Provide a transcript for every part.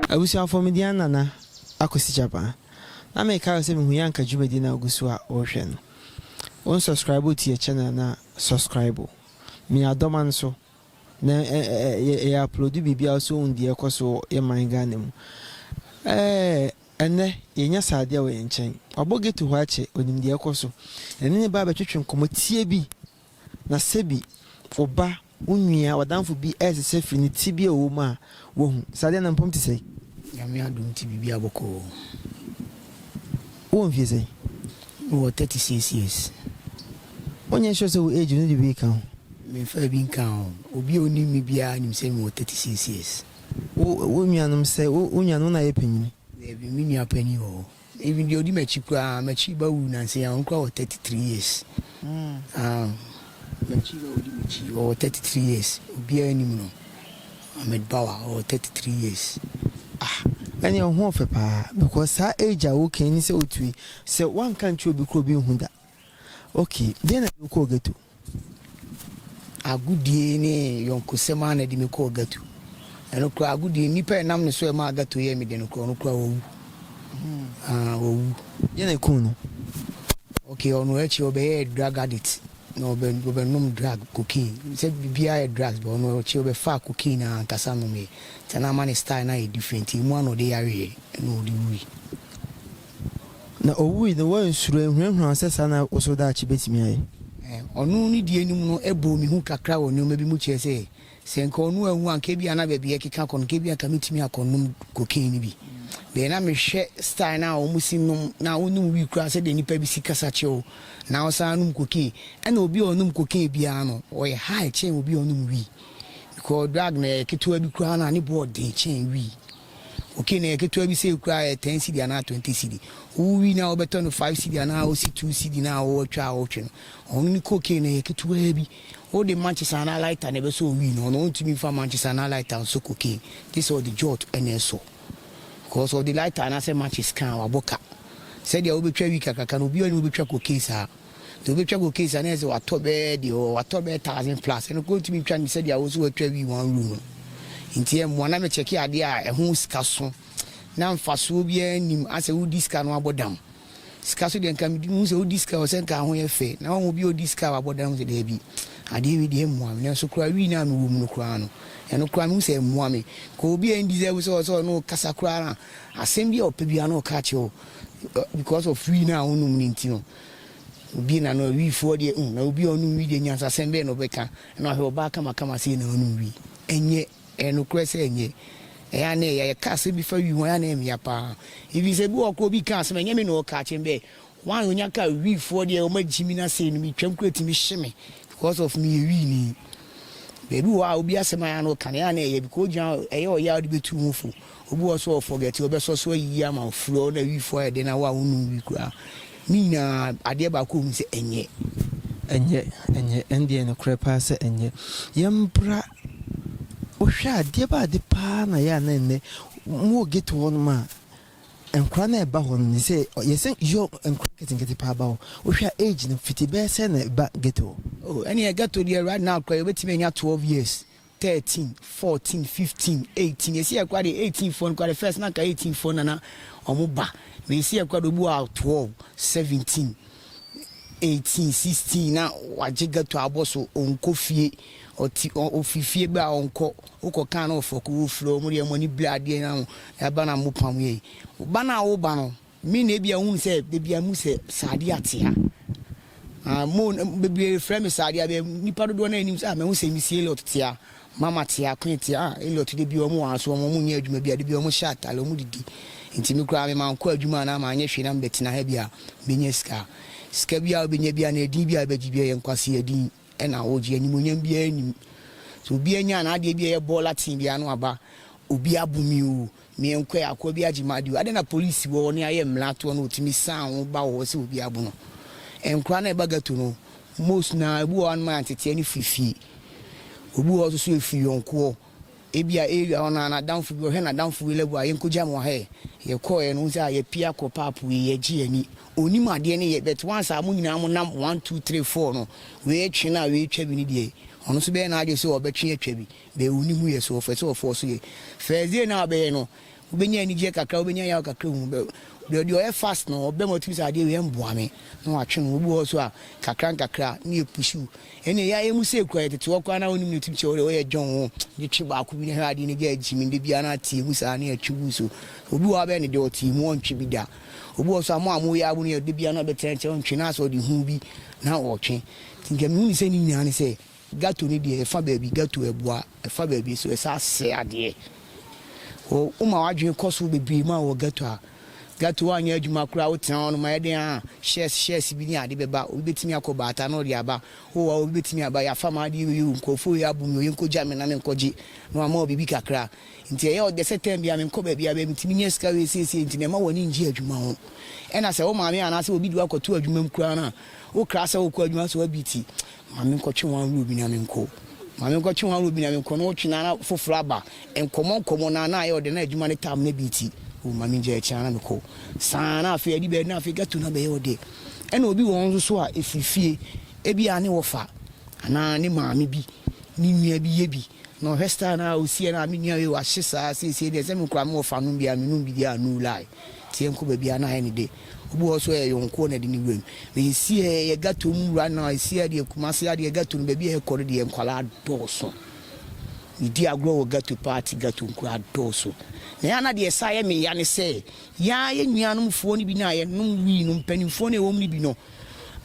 Abusuafo, me din Nana Akwasi Gyabaa. Na meka wo sɛ me hui anka dwumadi na ogu so a wohwɛ no. Wo nsɔskraibo tu yɛ channel no a sɔskraibo. Me adɔma no so na yɛ yɛ aplodu biribi a wo so ohu deɛ ɛkɔ so wɔ yɛ man Ghana mu. Ɛɛ ɛnnɛ yɛ nya saa adeɛ wɔ yɛ nkyɛn. Wabɔ ghetto hɔ akyɛ, onim deɛ ɛkɔ so. Yɛne no baa bɛtwetwe nkɔmɔ tiɛ bi Na sebi wo ba, wo nua, w'adamfo bi resesa firi ne tebea a ɔwɔ mu a, woahu. Saa deɛ na mpom te sɛn? Nyame adom nti biribiara bɔkɔ oo. Wowɔ mfie sɛn? Me wɔ thirty six years. Wonyɛ sure sɛ wo age no de wei ka ho? Me nfaa bi nkaa ho. Obi a onim me biara nim sɛ me wɔ thirty six years. Wo, wo nuanom sɛ, wo, wo nuanom na yɛ panyini? Daabi, me nua panin wɔ hɔ. Even deɛ ɔdi m'akyi koraa m'akyi ba wu nansa yi ɔno koraa wɔ thirty three years um, m'akyi ba ɔdi m'akyi ɔwɔ thirty three years obiara anim no Ahmed Bawa ɔwɔ thirty three years ah ɛne ɔho ɔfɛ paa because saa age a wokan ni sɛ otue sɛ wanka nkyerɛ obi kora obi nhu da okay deɛ na de wokɔɔ ghetto. Agodie ne yɔnkosɛm ara na ɛde me kɔɔ ghetto. Ɛno koraa, agodie, nnipa a ɛnam ne so a ɛmaa ghetto yɛɛ me den no koraa, ɔno koraa wawu. Ah, wawu. Deɛ na ɛkum no? Okay, ɔno akyi ɔbɛyɛɛ drug addict, na ɔbɛ, ɔbɛnom drug, cocaine. Sɛ biribiara yɛ drugs, but ɔno akyi ɔbɛfaa cocaine ara ankasa nomeeɛ. Nti na ama ne style no ayɛ different, emu ara na ɔde yareeɛ, ɛna ɔde wuui. Na owui no, wɔansuro, anhunahuna wɔn sɛ saa na wɔn so daakye betumi ayɛ. Ɔno ne deɛ anim no bɔɔ me hu kakra wɔ nneɛma bi mu kyerɛɛ sɛ, sɛ anka ɔno anwu a, anka ebia na baabi a yɛkeka kɔ no, anka ebia anka metumi akɔ nnom cocaine no bi. Deɛ na mehwɛ style no a wɔsi nom, na wonnom weed koraa, sɛdeɛ nnipa bi si kasa kyew, na wɔsan anom cocaine. Ɛna obi a ɔnom cocaine biara no, ɔyɛ high kyɛn obi a ɔnom weed, because drug no, ɛyɛ ketewa bi koraa no a, ne bo yɛ den kyɛn weed. Cocaine no yɛ ketewa bi sɛ ekura ɛyɛ ten cedi anaa twenty cedi. Wowi na wɔbɛtɔ no five cedi anaa osi two cedi na wɔatwa a wɔretwe no. Ɔno ne cocaine no yɛ ketewaa bi. Wode matches anaa lighter na ɛbɛsɔ owi no. Ɔno ontumi mfa matches anaa lighter nsɔ cocaine. Gye sɛ ɔde jot na ɛsɔ. Because ɔde lighter anaasɛ matches ka a, wabɔ ka. Sɛdeɛ wobɛtwa wi kakraka no, obiara nni hɔ a obɛtwa cocaine saa. Nti wobɛtwa kɔ case a na ayɛ sɛ watɔ bɛɛ deɛ ɔwɔ watɔ bɛɛ thousand plus ɛno koraa wotumi twa no sɛdeɛ wo nso watwa wii one room no nti ɛmmoa na mekyɛke adeɛ a ɛho sika so na mfasoɔ biara nnim asɛ wodi sika no abɔ dam sika so deɛ nka mehu sɛ wodi sika wɔ sɛ nka ho yɛ fɛ na wɔn obi a odi sika a wabɔ dam sɛ daabi adeɛ wei deɛ ɛmmoa me nanso koraa wii no a mewɔ mu no koraa no ɛno koraa mehu sɛ ɛmmoa me ka obi a ɛndi sɛ wo sɛ ɔsɛ ɔno kasa koraa na asɛm bi a ɔpɛ biara na ɔka kyerɛ wo because of wii no a wonom no nti no Obi na no wi foɔ deɛ uh na obi a ɔnom wi deɛ nyansasɛm bɛn na ɔbɛka na wahwɛ ɔbaa kamakama sei na ɔnom wi ɛnyɛ ɛyɛ nokorɛ sɛ ɛnyɛ ɛyɛ a na ɛyɛ yɛka asɛm bi fa wi ho ɛyɛ a na ɛyɛ mea paa even sɛ bi wɔ hɔ koraa obi ka asɛm a ɛnyɛ me na ɔka akyerɛ me bɛɛ why onya ka wi foɔ deɛ ɔma gyi me na sei no metwam koraa ɛtumi hye me because of meyɛ wi ni baabi wɔ hɔ a obi asɛm a ɛyɛ a na ɔka no ɛyɛ a na ɛyɛ because ogyina ɛyɛ ɔyɛ a wode bɛtu ho fo Obi wɔ hɔ so a ɔ forget ɔbɛ sɔ so ayi ama wo frɛ wo na wi fɔ ayɛ den na wo a wo nnom wi koraa ne nyinaa adeɛ baako wɔ mu sɛ ɛnyɛ. Ɛnyɛ ɛnyɛ ɛndeɛ nokorɛ paa sɛ ɛnyɛ yɛ mbra wo hwɛ a deɛ bɛ ade paa na yɛ a na ɛnɛ mo wɔ ghetto hɔ nom a nkora na ɛba hɔ nom sɛ yɛ sɛ yɔ nkora nketenkete paa ba hɔ wo hwɛ a age no fiti bɛyɛ sɛ na ɛba ghetto hɔ. Oh ɛneɛ ghetto deɛ right now koraa yɛ bɛ tumi anya 12 years thirteen, fourteen, fifteen, eighteen esi yɛ kora deɛ eighteen foɔ no kora deɛ first na nka eighteen foɔ na na wɔn ba na esi yɛ kora deɛ obi wɔ a twelve, seventeen, eighteen, sixteen na wagye ghetto abɔ so ɔnkɔ fie ɔti ɔ ofi fie bɛ a ɔnkɔ wokɔ kan na ɔfɔko wofiri wɔn deɛ wɔn ani bere adeɛ na ho ɛba na mo pam yɛ yi ba no a woba no Me na ebia wohunu sɛ baabi a mu sɛ Saadia atea. Ah, mo, bebree frɛ me Saadia, bɛ, nnipa dodoɔ no anim sɛ, ah, mahu sɛ Missy Elliot tea, Mama tea, Queen tea, ah, Elliot de bi wɔn wɔ aso, wɔn, wɔn nyɛ adwuma bia, de bi wɔn hyɛ atare, wɔn didi. Nti me koraa, me mankɔ adwuma anaa manyɛ hwee na mebɛtena ha bia, mebɛnya sika. Sika bia wobɛnya bia anaa edin bia wobɛgye bia, ɛyɛ nkwasea din. na ɔgye animuonyam biara nnim. Sɛ obi anya n'adeɛ bi a ɛyɛ bɔɔla tee bi ano aba, obi abo me oo, meɛnkɔɛ, akoa bi agye m'adeɛ oo, adɛn na polisi wɔ hɔ ne ayɛ mmara toɔ na ɔtumi san wo ba wɔ hɔ sɛ obi abo no? Nkora no a ɛba ghetto no, most no ara, ebi wɔ hɔ a no ma yɛanteteɛ no firi fie. Obi wɔ hɔ nso so ɛfiri yɔnkoɔ. Ebia area hɔ no ara n'adamfo bi, ɔhwɛ n'adamfo wei lɛbo a, yɛnkogya no wɔ ha ɛ. Yɛkɔeɛ no, wohu sɛ a yɛapia kɔ pap wei, yɛgye yɛn ani. Ɔnnim adeɛ ne yɛ, but once a mo nyinaa monam one, two, three, four no, wei retwe no a wei retwa bi no deɛ, ɔno nso bɛyɛ n'adwene sɛ ɔbɛtwe atwa bi, but ɔnni ho yɛ, so ɔpɛ sɛ ɔforce yɛ. First day no a wobɛyɛ no, Wobɛnya anigyeɛ kakra, wobɛnya yaw kakra hu bɛ Deɛ deɛ ɔyɛ fast no ɔbɛ mu ɔtumi sɛ adeɛ wei ɛmboa me na watwe no, obi wɔ hɔ nso a kakra nkakra ne yɛ push wo Ɛnneɛ yɛ ayɛ mu sei koraa yɛ tete hɔ koraa na wonim no tumi kyɛ wo dɛ woyɛ dwon wo de twe baako bi na hwɛ adeɛ no gya agye me da biara na ateɛ mu saa na yɛatwe gu so Obi wɔ hɔ a bɛyɛ no dɛ ɔte mu ɔntwe bi da Obi wɔ hɔ nso a mo a moyɛ abo no yɛ da biara na ɔbɛtena nkyɛn ɔntwe na asɛ ɔde hu bi na ɔtwe Nti nka mehu no sɛ ne nyinaa ne sɛ Gato no deɛ ɛfa baabi gato ɛboa, ɛfa baabi nso ɛsɛ asɛ adeɛ. Wo woma w'adwene kɔ so bebree mu a wɔ gato a, gato woanyɛ adwuma koraa wotena hɔ nom ayɛ dɛn a shares shares bi ne ade bɛba, obi bɛtumi akɔ baata na ɔde aba, oh a obi bɛtumi aba yɛafa m'adeɛ wei o, nkurɔfoɔ wei abom me wei nkɔgya me na menkɔgye na wama wo biribi kakra. Nti ɛyɛ ɔdɛ sɛ time biara menkɔ baabiara bɛyɛ metumi nya sika wei seesei nti na ɛma w'ani ngye adwuma ho. Ɛna sɛ wo maame anaasɛ obi de wo akɔto adwuma mu koraa no a, wokra sɛ wokɔ adwuma sɛ woabiti. Ma me nkɔtwe wɔn ahorow bi na me nkɔ. Ma me nkɔtwe wɔn ahorow bi na me nkɔ, na ɔtwe na na foforo aba. Nkɔmmɔ nkɔmmɔ na na ayɛ ɔdɛ, na adwuma ne tam na bi nti, oh, ma mingyae akyi na na me kɔ. Saa na afei adi bɛyɛ na afei ghetto no abɛyɛ ɔdɛ. Ɛna obi wɔ hɔ nso so a ɛfiri fie, ebia ne wɔfa anaa ne maame bi, ne nua bi yɛ bi, na ɔhwɛ style no a ɔsiiɛ no a, me nua wei wahye saa, seesei deɛ sɛ me koraa me wɔfa nom bi a, menom bi deɛ a, no lie. Teɛ nko baabi a na ayɛ ne de. Obi wɔ hɔ nso ɔyɛ yɔnkoɔ na ɛde ne wuram. Me nsiɛ yɛ ghetto mu wura na ɛsiɛ deɛ Kumasi adeɛ ghetto no baabi a yɛkɔ no deɛ nkwadaa dɔɔso. Medi agorɔ wɔ ghetto paa te ghetto nkwadaa dɔɔso. Na ɛyɛ a na deɛ ɛsan yɛ me ya ne sɛ, yɛn ara yɛn nuanom foɔ no bi no a yɛnom wii no mpaninfoɔ no a ɛwɔ mu no bi no,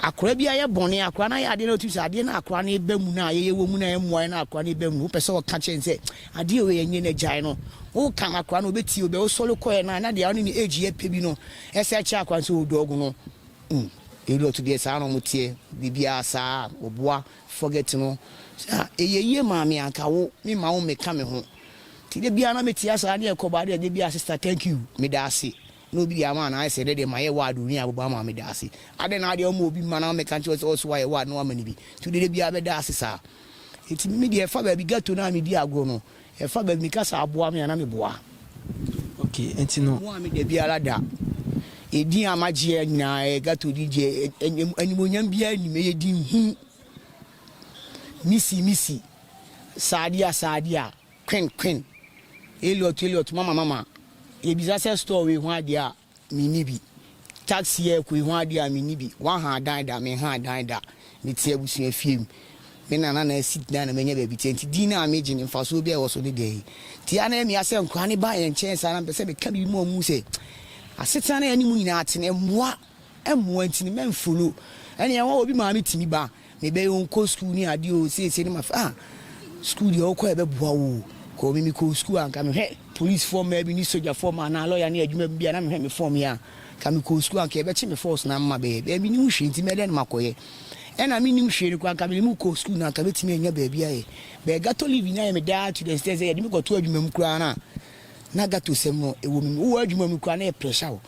Akora bi ayɛ bɔne a, akora no ayɛ adeɛ na wotim sɛ adeɛ no a akora no reba mu no a yɛyɛ wɔ mu no a ɛmmoa yɛn no a akora no reba mu no, wopɛ sɛ woka kyerɛ no sɛ adeɛ a wei yɛ nyɛ na gyae no. Woka ma akora no ɔbɛtie wo bɛɛ. Wosɔre kɔeɛ no a na deɛ ɔne ne age yɛ pɛ bi no sɛ kyerɛ akora no sɛ ɔredɔɔgo no. Mm, Elliot deɛ saa na wɔteɛ, biribiara saa, wɔboa, forget no. Sɛ a, ɛyɛ yie maa me a, anka wo, memma wo mmɛka me ho. Nti da biara na mɛtie asɔre a na yɛkɔ baa deɛ da biara sister thank you, meda ase. na obi de ama a, na ayɛ sɛ dɛ deɛ mayɛ ward woni a bɛbɔ ama me daase. Adɛn na adeɛ ɔma obi mma na mɛka nkyerɛ wo sɛ ɔso wayɛ ward na wama no bi, nti wode dabiara bɛda ase saa? Nti me deɛ ɛfa baabi ghetto no a medi agorɔ no, ɛfa baabi meka sɛ aboa me a na meboa. Okay, nti no. Mmoa me dabiara da. Edin a magyeɛ nyinaa ɛyɛ ghetto din deɛ animuonyam biara nnim, ɛyɛ din hunu. Missy, Missy, Saadia, Saadia, Queen Queen, Elliot Elliot Mama Mama, Yɛbisa sɛ store wei ho adeɛ a, menni bi Taxi yɛɛkɔ yi ho adeɛ a, menni bi Woaha adan da, menha adan da Mete abusua fie mu, me nana na asi dan na manya baabi te Nti din no a megye no, mfasoɔ biara a ɛwɔ so ne dɛn? Nti a na ɛmia sɛ nkoraa no ba yɛn nkyɛn saa na mepɛ sɛ meka biribi ma wɔhu sɛ asetena no a yɛne mu nyinaa te no, ɛmmoa. mmoa nti no mɛnfollow ɛne ɛho a obi maa me tumi ba me bɛyɛ o nkɔ school ne adeɛ o seesei no mafe ah school deɛ wokɔ ɛbɛboa wo o kɔ me mekɔ school a nka mehwɛ police foɔ mmaa bi ne soja foɔ mmaa anaa lawyer ne adwuma bi a na mehwɛ me form yɛ a nka mekɔ school a nka ɛbɛkye me force na mma bɛyɛ bɛyɛ menim hwee nti mɛdɛn na makɔyɛ ɛna menim hwee no koraa nka mene mu kɔ school na nka mɛtumi anya baabi ayɛ bɛyɛ gato livi na yɛ me daa to the extent sɛ yɛde me kɔto adwuma mu koraa na na gato sɛm no ɛwɔ me mu wowɔ adwuma mu koraa na yɛ pressure wo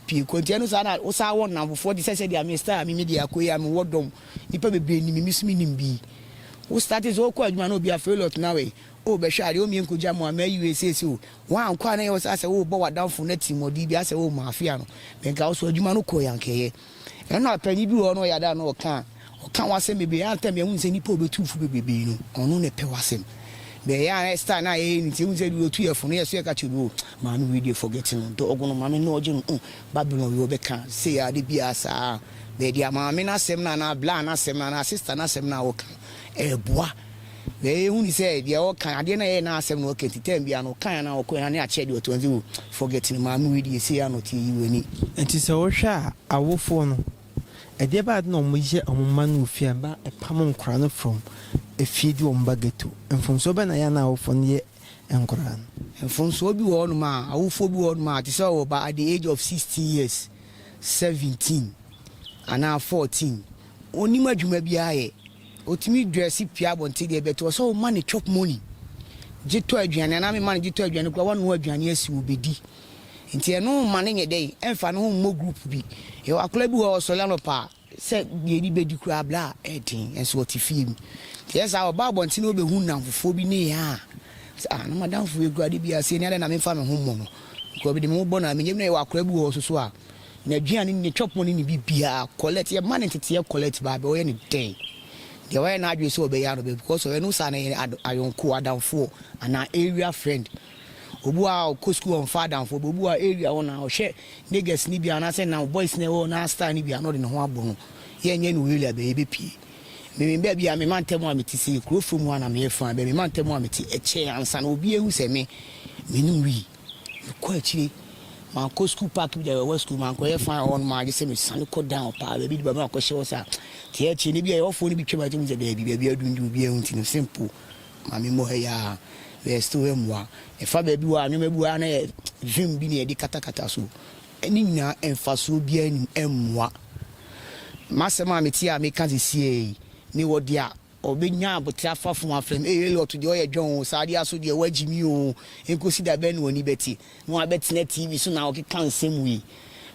pii kɔ. Nti ɛno saa na wo saa wɔ nnamfofoɔ te sɛ sɛdeɛ me style a me me deɛ akɔ yi a me wɔ dɔm nipa bebree nim me me so me nim bi. Wo starte sɛ wokɔ adwuma na obi a fail ɔtena wei oh bɛhwɛ adeɛ oh menkɔ gya mu a mayi wei seesei oh wankɔ a na ɛyɛ wo sɛ asɛ worebɔ wadamfo no atirimuɔden bi asɛ oh maafea no menka wo so adwuma no kɔ yi anka ɛyɛ Nna panyin bi wɔ hɔ na ɔyɛ ade a na ɔka a, ɔka ho asɛm bebree. Ɛyɛ a ntam yehu no sɛ nnipa a obetu wo fo bebrebe no, ɔno na ɛpɛ w'asɛm. But ɛyɛ a na style no a yɛyɛ no nti, yehu sɛ otu yɛn fo no, yɛn nso yɛka kyerɛ no, oh, maame wei deɛ forget no, dɔɔgo no maame nnɔɔgye no, oh, Babylon wei ɔbɛka sei ara da biara saa. But deɛ maame no asɛm no anaa bla no asɛm no anaa sister no asɛm no a ɔka no, ɛboa. Na eyi hu ne sɛ deɛ ɔkan, adeɛ no a ɛyɛ n'asɛm na ɔka nti, tɛm biara no ɔkan anaa ɔkɔɛ na ne akyɛdeɛ ɔtɔ nti wo forget no maame wei deɛ sei ara na ɔteɛ yi w'ani. Nti sɛ wohwɛ a awofoɔ no ɛdeɛ bɛn ade na wɔn yɛ wɔn mma no wɔ fie a ɛma ɛpam nkwadaa no from efie de wɔn ba ghetto? Mfomsoɔ bɛn na ɛyɛ a na awofoɔ no yɛ nkwadaa no? Mfomsoɔ bi wɔ hɔ nom a awofoɔ bi wɔ hɔ nom a te sɛ ɔwɔ ba at the age of sixteen years, seventeen anaa fourteen, ɔnnim adwuma biara yɛ. Otumi drɛse pue abɔnten deɛ but ɔsɛ woma no chop money gye tɔ aduane anaa mema no gye tɔ aduane koraa wanoa aduane asi hɔ ɔbɛdi nti ɛno mma no nyɛ dɛn ɛmfa ne ho mmɔ group bi yɛwɔ akwadaa bi hɔ a ɔsɔre anɔpa a sɛ deɛ ɛdi bɛdi koraa bra a ɛden nso ɔte fie mu nti ɛyɛ saa ɔba abɔnten na ɔbɛhu nnamfofoɔ bi ne yɛ a sɛ ah na madamfo wei koraa de bi asie ne adɛn na memfa me ho mmɔ no nka ɔbi de me ho bɔ no a menyɛ bi na yɛwɔ akwadaa bi wɔ hɔ soso a N'aduane, ne twɛpono ne ne biribiara, Colette, yɛma no nteteɛ Colette baa bɛ, ɔyɛ no dɛn? Deɛ wayɛ n'adwene sɛ ɔbɛya no bɛ because ɔyɛ no saa no ɛyɛ ad, ayɔnko, adamfoɔ, anaa area friend. Obi wɔ hɔ a ɔkɔ sukuu a ɔmfa adamfoɔ bɛ, obi wɔ hɔ a area hɔ na ɔhwɛ niggas no bi a anaasɛ nam boys no a ɛwɔ n'aa style no bi a na ɔde ne ho abɔ no. Yɛnyɛ no wei la bɛ, yɛbɛpie. Me me baabi a me mantam a mete sei, kuro fam hɔ a na meyɛ fine bɛ, me mantam a mete ɛkyɛɛ ansa na obiara ahu sɛ me, menim wii. Mekɔ akyire, mankɔ sukuu park bi da a ɛwɔ sukuu, mankɔyɛ fine wɔ hɔnom ara gye sɛ mesane kɔ down paa, baabi de bɛma akɔhyɛ hɔ saa. Nti akyire no bi a yɛhɔfoɔ no bi twam a gye hu sɛ daabi, baabi adundum, obiara nhu nti no simple, ma memmɔ ha yi ara, meyɛ still ha mmua. Ɛfa baabi wɔ a, nneɛma bi wɔ a na yɛ vim bi na yɛde katakata so. Ne nyinaa mfasoɔ biara nnim, ɛmmua. M'asɛm a mete a meka sesie yi, mewɔ deɛ a. Ɔbɛnya aboterɛ afa funu afam. Ei Elliot deɛ ɔyɛ dwɛn oo, saa adeɛ aso deɛ woagye me oo, ɛnkɔsi da bɛn na w'ani bɛte na wabɛtena TV so na wokeka nsɛm wei?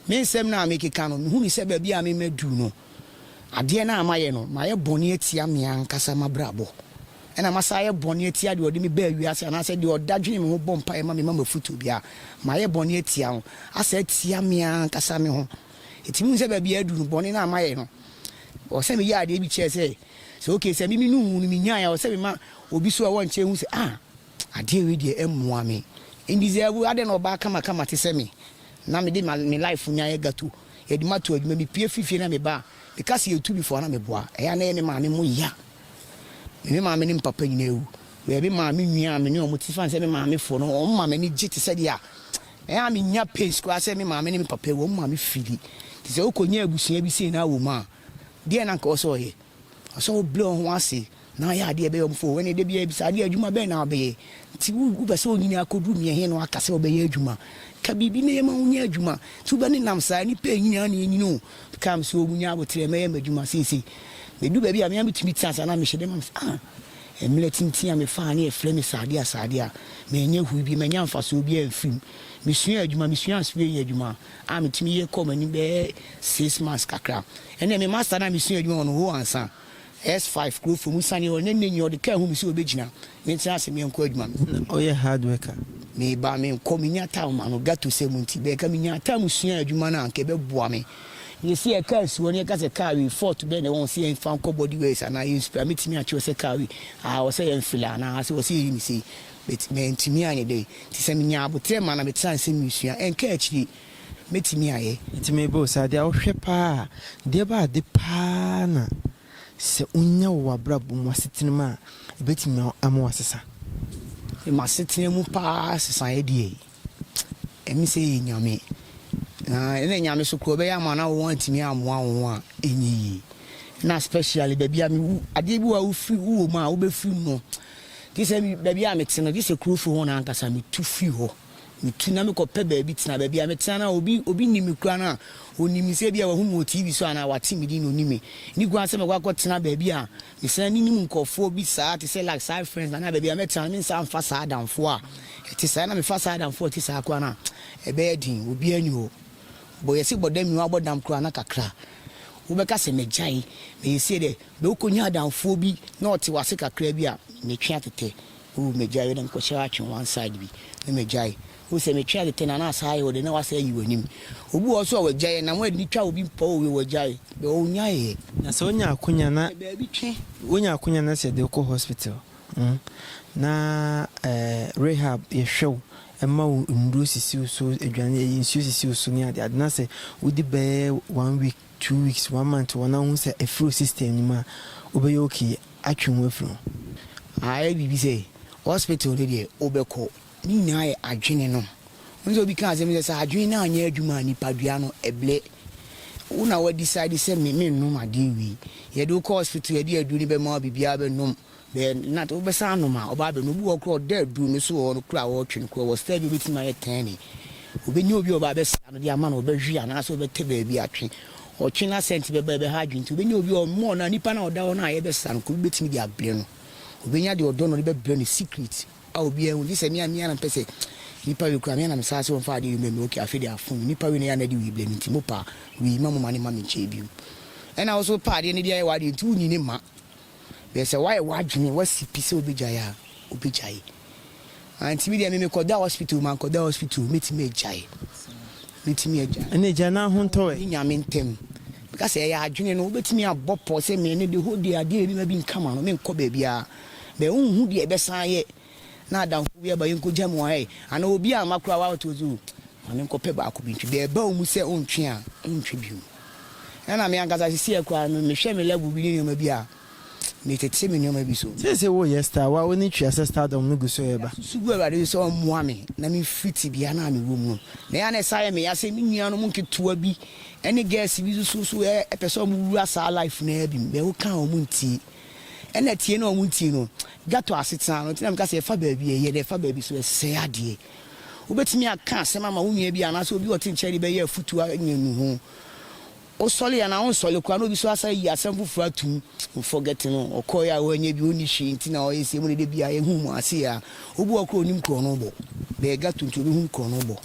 Me nsɛm no a mekeka no, mehunu sɛ baabi a me maduru no, adeɛ no a mayɛ no, mayɛ bɔne atia me ankasa m'abrabɔ, ɛna masan ayɛ bɔne atia deɛ ɔde me baa wiase anaasɛ deɛ ɔda dwene me ho bɔ mpaeɛ ma me ma m'afotuo biara, mayɛ bɔne atia no, asa atia me ankasa me ho. Enti mehunu sɛ baabi a aduru no, bɔne no a mayɛ no, ɛwɔ sɛ meyɛ adeɛ bi kyerɛ sɛ, Sɛ okay sɛ me me nuhu no minyae a ɔsɛ mema obi so a wɔnkyɛ hu sɛ ah adeɛ wei deɛ ɛmmoa me N deserve adɛn na ɔbaa kama kama te sɛ me na me de me life nya yɛ gato yɛde ma to adwuma me pie firi fie na me ba a me ka sɛ yɛtu bi fo a na me boa ɛyɛ a na ɛyɛ me maame mo ya me me maame ne me papa nyinaa awu wɛɛ me maame nwi a me ne ɔmo te fan sɛ me maame fo no ɔmo maame ne gye te sɛ deɛ a ɛyɛ a me nya pace koraa sɛ me maame ne me papa awu ɔmo maame fili te sɛ wokɔ nya abusua bi sei na awɔ mu a Deɛn na anka ɔwɔ sɛ ɔyɛ? Ɔwɔ sɛ ɔbrɛ wɔn ho ase na ɔyɛ adeɛ ɛbɛyɛ wɔn fɛ. Ɛnna da biara bisa adeɛ, Adwuma bɛn na wobɛyɛ? Nti wopɛ sɛ wonyini akɔduru mmea he na woaka sɛ wobɛyɛ adwuma? Ka biribi na yɛmma wonya adwuma. Nti wobɛnenam saa? Nnipa ɛnyini ara na ɛnyini o. Ka me sɛ wɔnya aboterɛ, mɛyɛ m'adwuma seesei. Mɛduru baabi a me ara mɛtumi tena ase anaa mehyɛ dɛ ma me sɛ, Ah! Mmerɛ tenten a mefaa ne yɛfrɛ me saadeɛ a saadeɛ a, manyɛ hui biom, manya mfasoɔ biara mfirim. Mesuaa adwuma, mesuaa surveying adwuma. a metumi yɛ kɔɔ m'anim bɛyɛ six months kakra. Ɛnna me master no a mesua adwuma wɔ no, Ho Ansa, S five, Kurofo mu, siane hɔ, na nnɛ nyinaa ɔde kaa hu me sɛ obegyina me nkyɛn ase menkɔ adwuma. Ná ɔyɛ hard worker. Meba a menkɔ, minnya time ma no, ghetto sɛm nti. But anka minyaa time suaa adwuma no a, anka ɛbɛboa me. Enti sɛ yɛka asuwa no, yɛka sɛ car wei, fault bɛn na ɛwɔ ho sɛ yɛmfa nkɔ body works anaa yɛn spray a, metumi akyerɛ wo sɛ car wei, ah, ɛwɔ sɛ yɛmfele anaa sɛ ɛwɔ sɛ yɛyi no sei. But mantumi anyɛ dɛ. Nti sɛ menyaa aboterɛ ma na metra ase meresua ɛnka akyire mɛtumi ayɛ. Nti mebɔ wo saa, deɛ wohwɛ paa a, deɛ ɛba ade paa na sɛ wonya wɔ w'abrabɔ mu, w'asetena mu a, ɛbɛtumi ama woasesa? M'asetena mu paa sesaeɛ deɛ. Emi sɛ yɛ Nyame, na nna Nyame so koraa ɔbɛyɛ ama na wɔantumi ammoa wo ho a, ɛnyɛ yie. Nna specially baabi a mewu, adeɛ bi wɔ hɔ a wofiri, wowɔ mu a wobɛfiri mu no, gye sɛ baabi a mete no, gye sɛ kurofie hɔ no ankasa metu firi hɔ. Metu na mekɔpɛ baabi tena. Baabi a metena no a, obi, obi nnim me koraa no a, ɔnim me sɛ ebia wahu me wɔ TV so anaa wate me din na ɔnim me. Nni kwan sɛ mɛkɔ akɔtena baabi a Mesan nnim nkurɔfoɔ bi saa te sɛ like side friends anaa baabi a mɛtena no mensan mfa saa adamfoɔ a ɛte saa na mefa saa adamfoɔ a ɛte saa koraa no a ɛbɛyɛ den obiara nni hɔ bɔ yɛse bɔ dam mewɔ abɔ dam koraa na kakra wobɛka sɛ magyae mensie dɛ bɛ wokɔnya adamfoɔ bi na ɔte wase kakra bi a metwe atɛtɛ oh magyae yɛ dɛ mekɔhyɛ atwe one side bi na magyae Wohu sɛ metwɛn de tɛn anaa saa ayɛ wo dɛ na woasan ayi w'anim? Obi wɔ hɔ nso a wagyae ɛ, na mo ani twa obi mpo a owie wagyae bɛ ɔnyae ɛ. Na sɛ wonya akonya na Yɛ baabi twe. Wonya akonya na sɛ yɛde wo kɔ hospital hmm na eh rehab yɛhwɛ wo, ɛma wo nnuro sisi wo so, aduane ɛyi nsuo sisi wo so ne ade ade na sɛ wodi bɛyɛ one week, two weeks, one month wɔ na wohu sɛ afiri wo system no mu a, wobɛyɛ okay atwe wo ho afiri ho. Ayɛ biribi sɛ hospital no deɛ wobɛkɔ. Ne nyinaa yɛ adwene no. Wohu sɛ obi ka asɛm bi sɛ, sɛ adwene no anyɛ adwuma a, nipadua no, ɛblɛ. Wo na woa decide sɛ me, mennom adeɛ wei. Yɛde wo kɔ hospital, yɛde aduro no bɛma wo, biribiara bɛnom. Bɛyɛ nna, wobɛsan anom a, ɔba abɛnom. Obi wɔ hɔ koraa a, ɔda aduro no so wɔ hɔ no koraa a, wɔretwe no koraa, ɔwɔ style bi a ɔbɛtumi ayɛ tɛn ne. Ɔbɛnya obi a ɔba abɛsra no de ama no, ɔbɛhwe anaasɛ ɔbɛtɛ baabi atwe. Ɔtwe no a, scent bɛba a, ɛbɛha adwene. Nti ɔbɛnya obi a ɔmmɔ no a, nipa no a ɔda hɔ no a yɛbɛsra no, obi bɛtumi de abrɛ no. Ɔbɛnya deɛ ɔdɔ no de bɛbrɛ no secret. a obiara nhu gyesɛ me a me ara na mepɛ sɛ nipa we koraa me ara na me saa sɛ wɔmfa adeɛ wim me ok afei deɛ afom nipa we no yɛ a na ɛde wii blɛ me nti mo pa wii ma mo ma ne mma me nkyɛn bio ɛna wo nso wo pɛ adeɛ no de ayɛ w'adeɛ nti wo nyi ne mma bɛɛ sɛ woayɛ w'adwene woasi pi sɛ wobɛgyae a wobɛgyae anti me deɛ me mekɔda hospital mankɔda hospital mɛtumi agyae mɛtumi agyae ɛna gya no ahontɔɛ ne nyame ntɛm meka sɛ ɛyɛ adwene no wobɛtumi abɔ pɔ sɛ me ne de hɔ deɛ adeɛ yɛ bi ma bi nkama no menkɔ baabiara bɛ nhu deɛ bɛsan ayɛ na adamfo bi aba yɛnkɔgya mu a ɛɛ anaa obi amma koraa woato odzi o ma menkɔpɛ baako bi ntwe deɛ ɛba wo mu sɛ wontwe a wontwe bio ɛna me ankasa sesei koraa no mehwɛ me level bi ne nneɛma bi a metete me nneɛma bi so. Seesei woreyɛ star wo a w'ani tua sɛ stardom no gu so reba. Meda so su gu Awurade so sɛ ɔmmoa me na memfiri tebea no a mewɔ mu no na ɛyɛ a na ɛsan yɛ me ya sɛ me nuanom nketewa bi ne girls bi nso so ɛpɛ sɛ wɔwura saa life no ara bi bɛ wokaa wɔn ntie. Ɛna tie no a ɔmo ntie no ghetto asetena no nti na meka sɛ ɛfa baabi a ɛyɛ dɛ ɛfa baabi so ɛsɛe adeɛ. Wobɛtumi aka asɛm ama wo nua bi anaasɛ obi a ɔte nkyɛn de bɛyɛ afutuo anya nnuho. Wosɔle anaa wonsɔle koraa na obi nso asan ayi asɛm foforɔ atom no forget no ɔkɔeɛ a wanyɛ bi ɔnni hwee nti na ɔyɛ sei ɛmu na da biara yɛhu wɔn ase a obi wɔ hɔ koraa ɔnim korɔno bɔ bɛyɛ ghetto nti ɔbɛhunu korɔno bɔ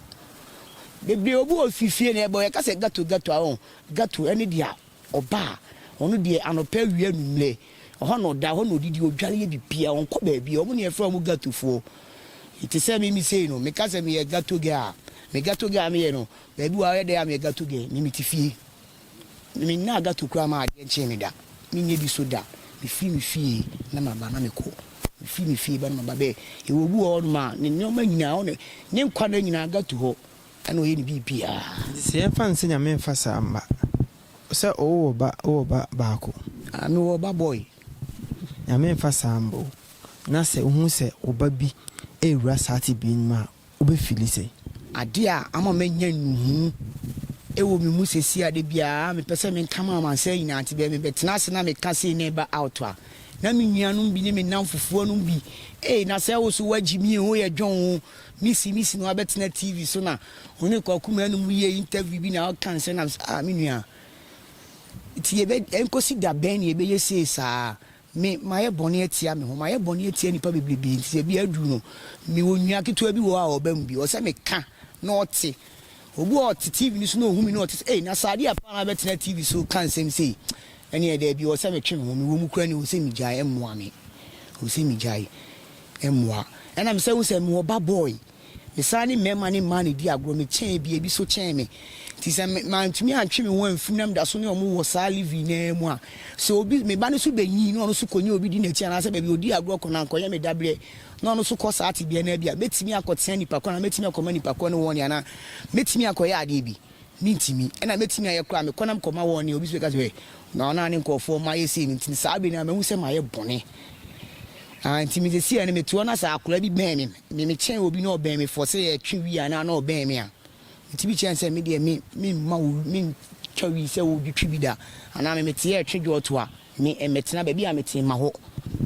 bebree obi wɔ fifie na ɛbɔ yɛka sɛ ghetto ghetto a ɔho ghetto ɛne deɛ a Ɔba a, ɔno deɛ anɔpa, awia, anwummerɛ, ɛhɔ na ɔda, ɛhɔ na ɔdidi, ɔdware yɛ biribiara, ɔnkɔ baabiara. Wɔn na yɛfrɛ wɔn Ghettofoɔ. Te sɛ me, me sei no, meka sɛ meyɛ Ghetto girl a, me Ghetto girl a meyɛ no, baabi wɔ hɔ a ɔyɛ dɛ a meyɛ Ghetto girl, me mete fie. Me mennaa Ghetto koraa maa adeɛ nkyee me da. Menyɛ bi nso da. Mefiri me fie na maba na mekɔ. Mefiri me fie ba na maba bɛ. Yɛwɔ obi wɔ hɔnom a, ne nneɛma nyinaa, ɔne, ne nkwa nna nyinaa Ghetto hɔ. Ɛna ɔyɛ ne biribiara. Nti sɛ yɛmfa no sɛ Nyame mfa saa mma wo sɛ owowɔ ba wowɔ ba baako. Ah me wɔ ɔba boy. Nyame mfa saa mma wo. Na sɛ wohu sɛ wo ba bi rewura saa tebea no mu a wobɛ fili sɛn? Adeɛ a ama manya nnuhu wɔ me mu sesie a da biara me pɛ sɛ me nka ma amansan nyinaa nti bɛɛ me bɛ tena ase na me ka sei na ɛba out a na me nuanom bi ne me nnamfofoɔ nom bi ee na sɛ wo so wagyi me ee wo yɛ dwon oo Misi misi na wabɛtena TV so na ɔne Kwaku Maanum yɛ interview bi na ɔka nsɛm na mesɛ ah me nua nti yɛbɛ ɛnkosi da bɛn na yɛbɛyɛ sei saa me mayɛ bɔne atia me ho mayɛ bɔne atia nnipa bebrebe nti sɛ bia aduru no mewɔ nua ketewa bi wɔ hɔ a ɔba mu bi ɔsɛ meka na ɔte obi wɔ ɔte TV no so na ɔhu me na ɔte sɛ ei na saa adeɛ apaa na wabɛtena TV so ka nsɛm sei ɛneɛ daabi ɔsɛ metwe me ho mewɔ mu kura ne ɔsɛ megyae mmoa me ɔsɛ megyae mmoa. Ɛnna mesan hui sɛ mewɔ ba boy. Mesan ne mmarima ne mmaa na edii agorɔ. Mekyɛn bi, ebi nso kyɛn me. Nti sɛ me mantumi antwe me ho amfi mu na meda so ne wɔn wɔ saa live-in no ara mu a, sɛ obi, me ba no nso benyin na ɔno nso kɔnya obi di n'akyi anaasɛ baabi a odii agorɔ kɔ no ankɔyɛ me dabere na ɔno nso kɔ saa tebea no a, ebia metumi akɔtena nnipa ko no anaa metumi akɔma nnipa ko no wɔn anaa metumi akɔyɛ adeɛ bi. Mintumi. Ɛna metumi ayɛ koraa a, mekɔ na mekɔma wɔn nea obi nso bɛka sɛ, Hwɛ, na ɔno ara ne nkurɔfoɔ a mayɛ sei no nti, saa bere no ara mahu sɛ mayɛ bɔne. Ah, nti me seesei ara no mete hɔ na sɛ akwadaa bi bɛn me, me mekyɛn obi na ɔbɛn me fɔ sɛ yɛretwe wii anaa na ɔbɛn me a, metumi kyerɛ no sɛ me deɛ me, memma wo, mentwa wii sɛ wodwetwe bi da, anaa me mete yɛretwe dwɔɔtoa. Me mɛtena baabi a metee ma hɔ.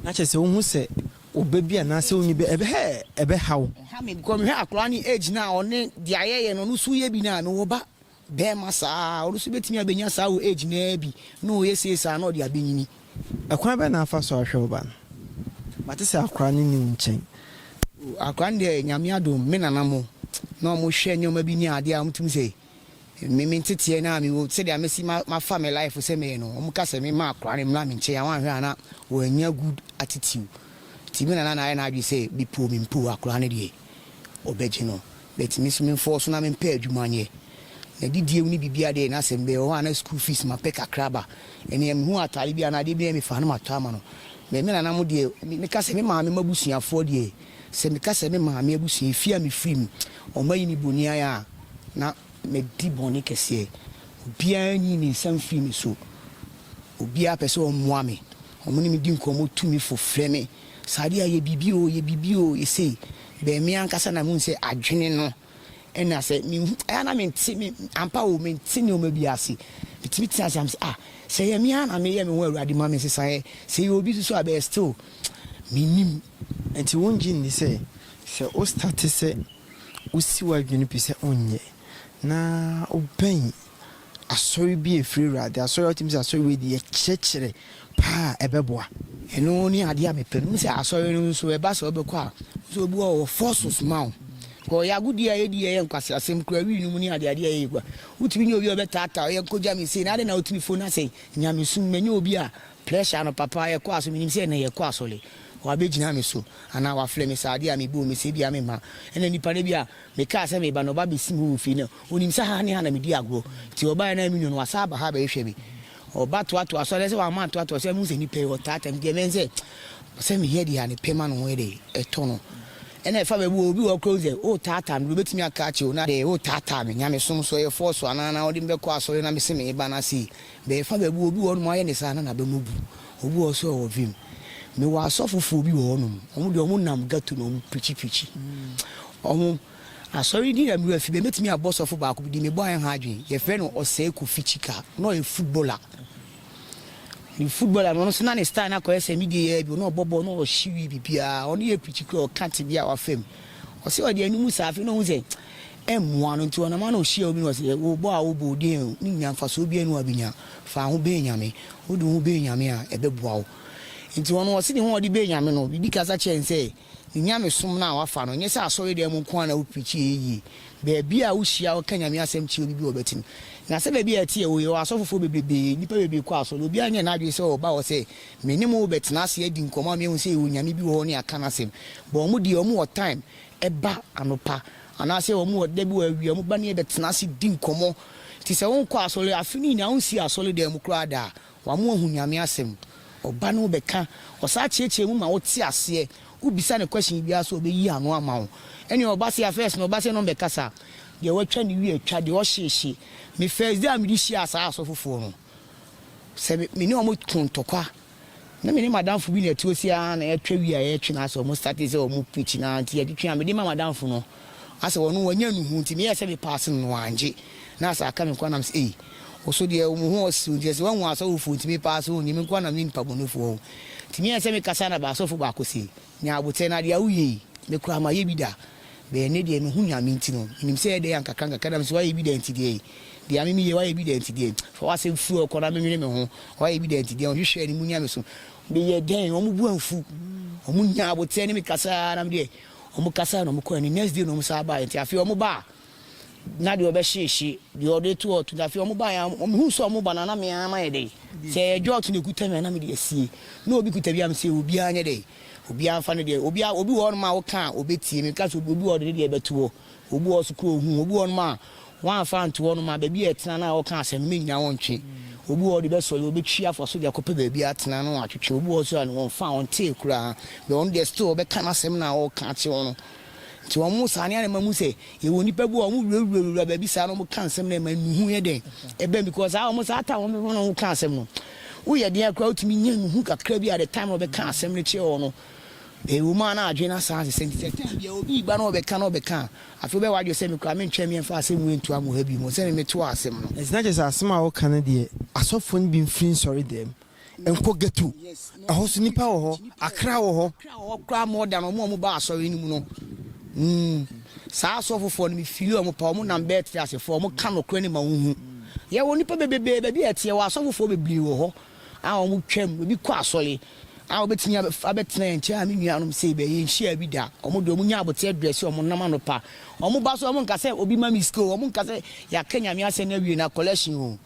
Na kyerɛ sɛ wohu sɛ ɔbɛ bi anaasɛ onyi bɛ ɛbɛ hɛ ɛbɛ ha wo. Ɛha me because mehwɛ akwadaa no age no a ɔne deɛ ayɛyɛ no ɔno nso yɛ bi no a mewɔ ba barima saa ɔno nso bɛtumi abɛnya saa wɔ age no ara bi na ɔyɛ sei saa na ɔde abɛnyini. Ɛkwan bɛn na afa so ahwɛ wo ba no? Mate sɛ akwadaa no nni wo nkyɛn. Oh akwadaa no deɛ Nyame adom me nana mo na wɔhwɛ nneɛma bi ne adeɛ a wɔtumi sɛ Me me nteteɛ no a mewɔ sɛdeɛ mesi ma mafa me life sɛ meyɛ no wɔn ka sɛ me ma akora no mmra me nkyɛn a wɔn ahwɛ a na wɔn nya good attitude ti me nana na ayɛ n'adwene sɛ me po me mpo akora no deɛ ɔbɛgye no but me so me nfɔɔ so na me mpɛ adwuma nyɛ na didie mu ne biribiara deɛ na sɛ mbɛyɛ wɔ hɔ a na school fees ma pɛ kakra ba ɛneɛ me hu ataade bi anaa adeɛ bi na me fa no ma tɔ ama no but me nana mo deɛ me ka sɛ me maame ma busuafoɔ deɛ. Sɛ meka sɛ me maame abusua, efie a mefiri mu, wɔayi me bonniayɛ a, na madi bɔne kɛseɛ. Obiara nyi ne nsa mfiri me so. Obiara pɛ sɛ ɔmmoa me. Wɔne me di nkɔmmɔ, tu me fo, frɛ me, Saadia, yɛ biribi oo, yɛ biribi oo, yɛ sei. Bɛn me ankasa na mehu sɛ adwene no. Ɛna sɛ me hu ɛyɛ a na me nte me ampa o me nte nneɛma bi ase. Me tumi tena ase a me sɛ ah sɛ ɛyɛ me ara na me yɛ me ho Awurade ma me nsesa ɛ. Sɛ ɛyɛ obi nso so a bɛɛ still me nim. Ɛnti wo ngye nni sɛ sɛ wo starte sɛ wo si w'adwene pi sɛ wo nyɛ na wo bɛn Asɔre bi a ɛfiri Awurade, asɔre a wotumi sɛ asɔre wei deɛ ɛkyerɛkyerɛ paa a, ɛbɛboa. Ɛno ne adeɛ a mepɛ. Menim sɛ asɔre no nso ɛba saa wobɛkɔ a, wo nso obi wɔ hɔ a ɔwɔ forces ma wo. Because ɔyɛ agodie a yɛdi a ɛyɛ nkwaseasɛm kura wii no mu ne adeadeɛ a ɛyɛ yɛkura. Wotumi nya obi a ɔbɛtaataa wo, yɛ nkɔgya me sei, na adɛn na wotumi fo na sɛ nyamesom, manya obi a pressure no papa, yɛkɔ asɔre, menim sɛ ɛnnɛ yɛkɔ asɔre, wabɛgyina me so anaa wafrɛ me sɛ adeɛ a mebɔ mu sɛ ebia memma. Ɛna nnipa no ebia Mekaa sɛ mereba no, ɔba bɛsim hɔ wɔ fie no. Ɔnim sɛ ha ne ha na medi agorɔ, nti ɔbaeɛ no, na me nua no wasan aba ha abɛhwehwɛ me. Ɔba toatoaa so, ɛnɛ sɛ wamma antoatoa so a, mehu sɛ nnipa yi, wɔtaataa me. Nti ɛbɛyɛ sɛ sɛ mehia aduane a, ne pɛ ma ne ho yɛ dɛ, ɛtɔ no. Ɛnna ɛfa baabi wɔ hɔ, obi wɔ hɔ koraa a, ɔhu sɛ woretaataa no, deɛ ɔbɛtumi aka akyerɛ wo na. Dɛ woretaataa me, nyamesom so, ɛyɛ force anaa? Na wode me bɛkɔ asɔre na mese mereba na sei. Bɛɛfa bɛɛbi wɔ obi wɔ hɔnom ayɛ ne saa na n'aba mu bu. Obi wɔ hɔ so ɔwɔ vim. Me wɔ asɔfofoɔ bi wɔ hɔnom, ɔmo deɛ ɔmo nam ghetto na ɔmo preachi preachi. Ɔmo asɔre din na me wura fi bɛ, mɛtumi abɔ sɔfo baako bi din, me bɔ ayɛ ho adwene, yɛ frɛ no Ɔsɛɛ Kofi Chika, na ɔyɛ footballer. Ne footballer no ɔno nso na ne style no akɔyɛ sɛ me deɛ yi ara bi, na ɔbɔ bɔɔl na ɔhye wie biribiara, ɔno yɛ preachi koraa ɔka tebea a wafa mu. Ɔse ɔde anum saa, afei na ohu sɛ Ɛmmoa no, nti ɔnam ara na ɔhyia obi na ɔse, Wo bɔ a wo bɔ odin no nnya mfasoɔ biara nni hɔ a bɛnya, fa ho bɛn Nyame, wode wo ho bɛn Nyame a ɛbɛboa wo. Nti ɔno ɔse ne ho a ɔde bɛn Nyame no, Bibi kasa kyerɛɛ no sɛ, Ne Nyamesom no a wafa no, nyɛ sɛ asɔre dan mu nko ara na wo preachi ɛyɛ yie. Baabi a wo hyia wo ka Nyame asɛm kyerɛ obi bi ɔbɛte no. Na sɛdeɛ bi a ɛteɛ wɔ yɛwɔ asɔfofoɔ bebrebee, nnipa bebree kɔ asɔre, obiara nyɛɛ n'adwene sɛ ɔba hɔ sɛ me ne mo wo bɛtena ase adi nkɔmmɔ ama yɛahu sɛ yɛwɔ Nyame bi wɔ hɔ ne akana asɛm, but wɔn deɛ wɔn wɔ time ba anɔpa Anaasɛ wɔn wɔ da bi wɔawie, wɔn ba no yɛ bɛtena ase di nkɔmmɔ. Nti sɛ wonkɔ asɔre, afe no nyinaa wonsii asɔredan mu koraa da a, wama woahu Nyame asɛm. Ɔba no bɛka, ɔsaa kyeakyea mu ma wote aseɛ. Wobisa no question biara nso a ɔbɛyi ano ama wo. Ɛnneɛ ɔba se a first no ɔba se na ɔmmɛkasa. Deɛ watwa ne wie atwa, deɛ ɔhye hye. Me first day a mede hyiaa saa asɔfofoɔ no, sɛ me ne wɔn ko ntɔkwa Na me ne m'adamfo bi na ɛte ose ara na yɛtwa wie a yɛretwe na asɛ wɔn starte sɛ wɔn preach na nti yɛtwetwe a mede ma m'adamfo no asɛ wɔn no wɔanya nnuhu nti meyɛɛ sɛ me pass no na wɔangye na asɛ aka me nkoa nam sɛ ei wo so deɛ mo ho ɔsere nti ɛsɛ wɔahu asɔrefoɔ nti me pass o nyɛ me nkoa nam yɛ nipa bɔnefoɔ o nti meyɛɛ sɛ me kasa na baasɔfo baako se Nya aboterɛ na deɛ woyɛ yi me koraa mayɛ bi da but ɛnnɛ deɛ mehu Nyame nti no menim sɛ ɛdɛn a nkakra nkakra na mese woayɛ bi da nti deɛ ei deɛ ame meyɛ woayɛ bi da nti deɛ fa w'asɛm firi hɔ kɔ na menwene me ho woayɛ bi da nti deɛ ɔhwehwɛ anim Nyame so meyɛ dɛn wɔn bo amfu wɔn nyaa aboterɛ ne me kasaa na me deɛ wɔn kasaa na wɔn kɔɛ ne next day na wɔn san baeɛ nti afei wɔn ba a na deɛ ɔbɛhye ɛhye, deɛ ɔde ato hɔ ato. Na afei wɔn baeɛ a, mehuu sɛ wɔn ba no a, na me ara mayɛ dɛn, sɛ ɛyɛ dwɔɔto na ɛkuta me a, na mede asie. Na obi kuta bi a, mese obiara nyɛ dɛn, obiara mfa ne deɛ. Obi a, obi wɔ hɔnom a woka a, ɔbɛtie. Meka sɛ obi wɔ hɔ a ɔde ne deɛ bɛto hɔ. Obi wɔ hɔ nso koraa ɔhu wo. Obi wɔ hɔnom a, woamfa anto hɔnom a, baabi a ɛtena no a wɔka asɛm no, mennya wo ntwe. Obi wɔ hɔ a, ɔde bɛsɔ yɛ, ɔbɛtwi afa so de akɔpɛ baabi atena na watwetwe. Obi wɔ hɔ nso a, ɔmfaa, ɔntee koraa. But ɔno deɛ, still ɔbɛka n'asɛm no a ɔreka akyerɛ wo no. Nti wɔn saa no ɛna ɛma mu sɛ yɛwɔ nipa bi a wɔn wurawurawura baabi saa na wɔn ka nsɛm na ɛma nnuhu yɛ dɛn ɛbɛn because saa wɔn saa time wɔn wɔn ka asɛm no woyɛ den akora wotumi nya nnuhu kakra bi a the time na wɔbɛka asɛm no kyerɛ wɔn no ɛwɔ mu a na adwene na saa sɛ nti sɛ time bi a obi ba na wɔbɛka na wɔbɛka afei bɛwɔ adwene sɛ mekora mentwɛn me mfa asɛm wei nto amu ha bi mu sɛ me meto asɛm no. Ɛnti na kyerɛ sɛ asɛm a woka no deɛ asɔfoɔ no bi mfiri nsɔre dɛm Nkɔ ghetto. Ɛhɔ nso nnipa wɔ hɔ. Accra wɔ hɔ. Accra wɔ hɔ koraa more than wɔn a wɔba asɔre no mu no. Mm. Saa asɔfofoɔ no, me feeli wɔn paa. Wɔnam bɛɛte ase fo. Wɔka nokorɛ no ma wohu. Yɛwɔ nnipa bebrebee baabi a ɛteɛ. Yɛwɔ asɔfofoɔ bebrebee wɔ hɔ a wɔtwam. Ebi kɔ asɔre a wɔbɛtumi abɛtena yɛn nkyɛn a me nuanom sei bɛɛ yɛnhyiaa bi da. Wɔn deɛ wɔnya aboteɛ drɛse a wɔnam anɔpa. Wɔba so a wɔnka sɛ obi ma me sika o. Wɔnka sɛ yɛaka Nyame asɛm no awie na collection o.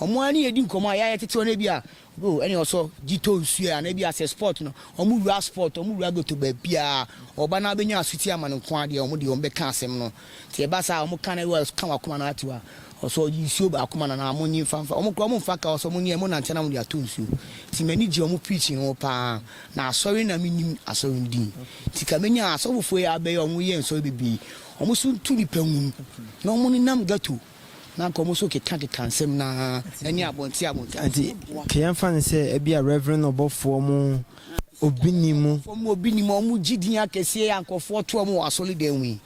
Ɔmo ara ne yɛ di nkɔmɔ a yɛ a yɛ tete wɔn ebi a oh ɛne ɔsɔ gyi tɔ nsuo ɛ anaa ebi a sɛ sport no ɔmo wura sport ɔmo wura goto baabiaa ɔba na abɛnya asuti ama no nko ara deɛ ɔmo deɛ ɔmo bɛka asɛm no nti ɛba saa a ɔmo ka na ewa ka wɔ akoma na ate wa ɔsɔ gyi nsuo ba akoma na na ɔmo nye nfa nfa ɔmo kora ɔmo nfa ka ɔsɔ ɔmo nye ɔmo nante na ɔmo de atɔ nsuo nti m'ani gye ɔmo preaching no ho paa na asɔre na me nim asɔre no din nti ka menya asɔfofoɔ yi a abɛyɛ ɔmo yɛ nsɔre bebree ɔmo so ntu nipa nwunu na ɔmo nenam gato na anka wɔn nso kekakeka nsɛm no ara ne abɔnten abɔnten. Enti, ka yɛmfa no sɛ ebia Reverend ɔbɔfoɔ mu obi nni mu. Ɔbɔfoɔ mu obi nni mu a wɔgye din akɛseɛ a nkurɔfoɔ to wɔn wɔ asɔredan mu yi.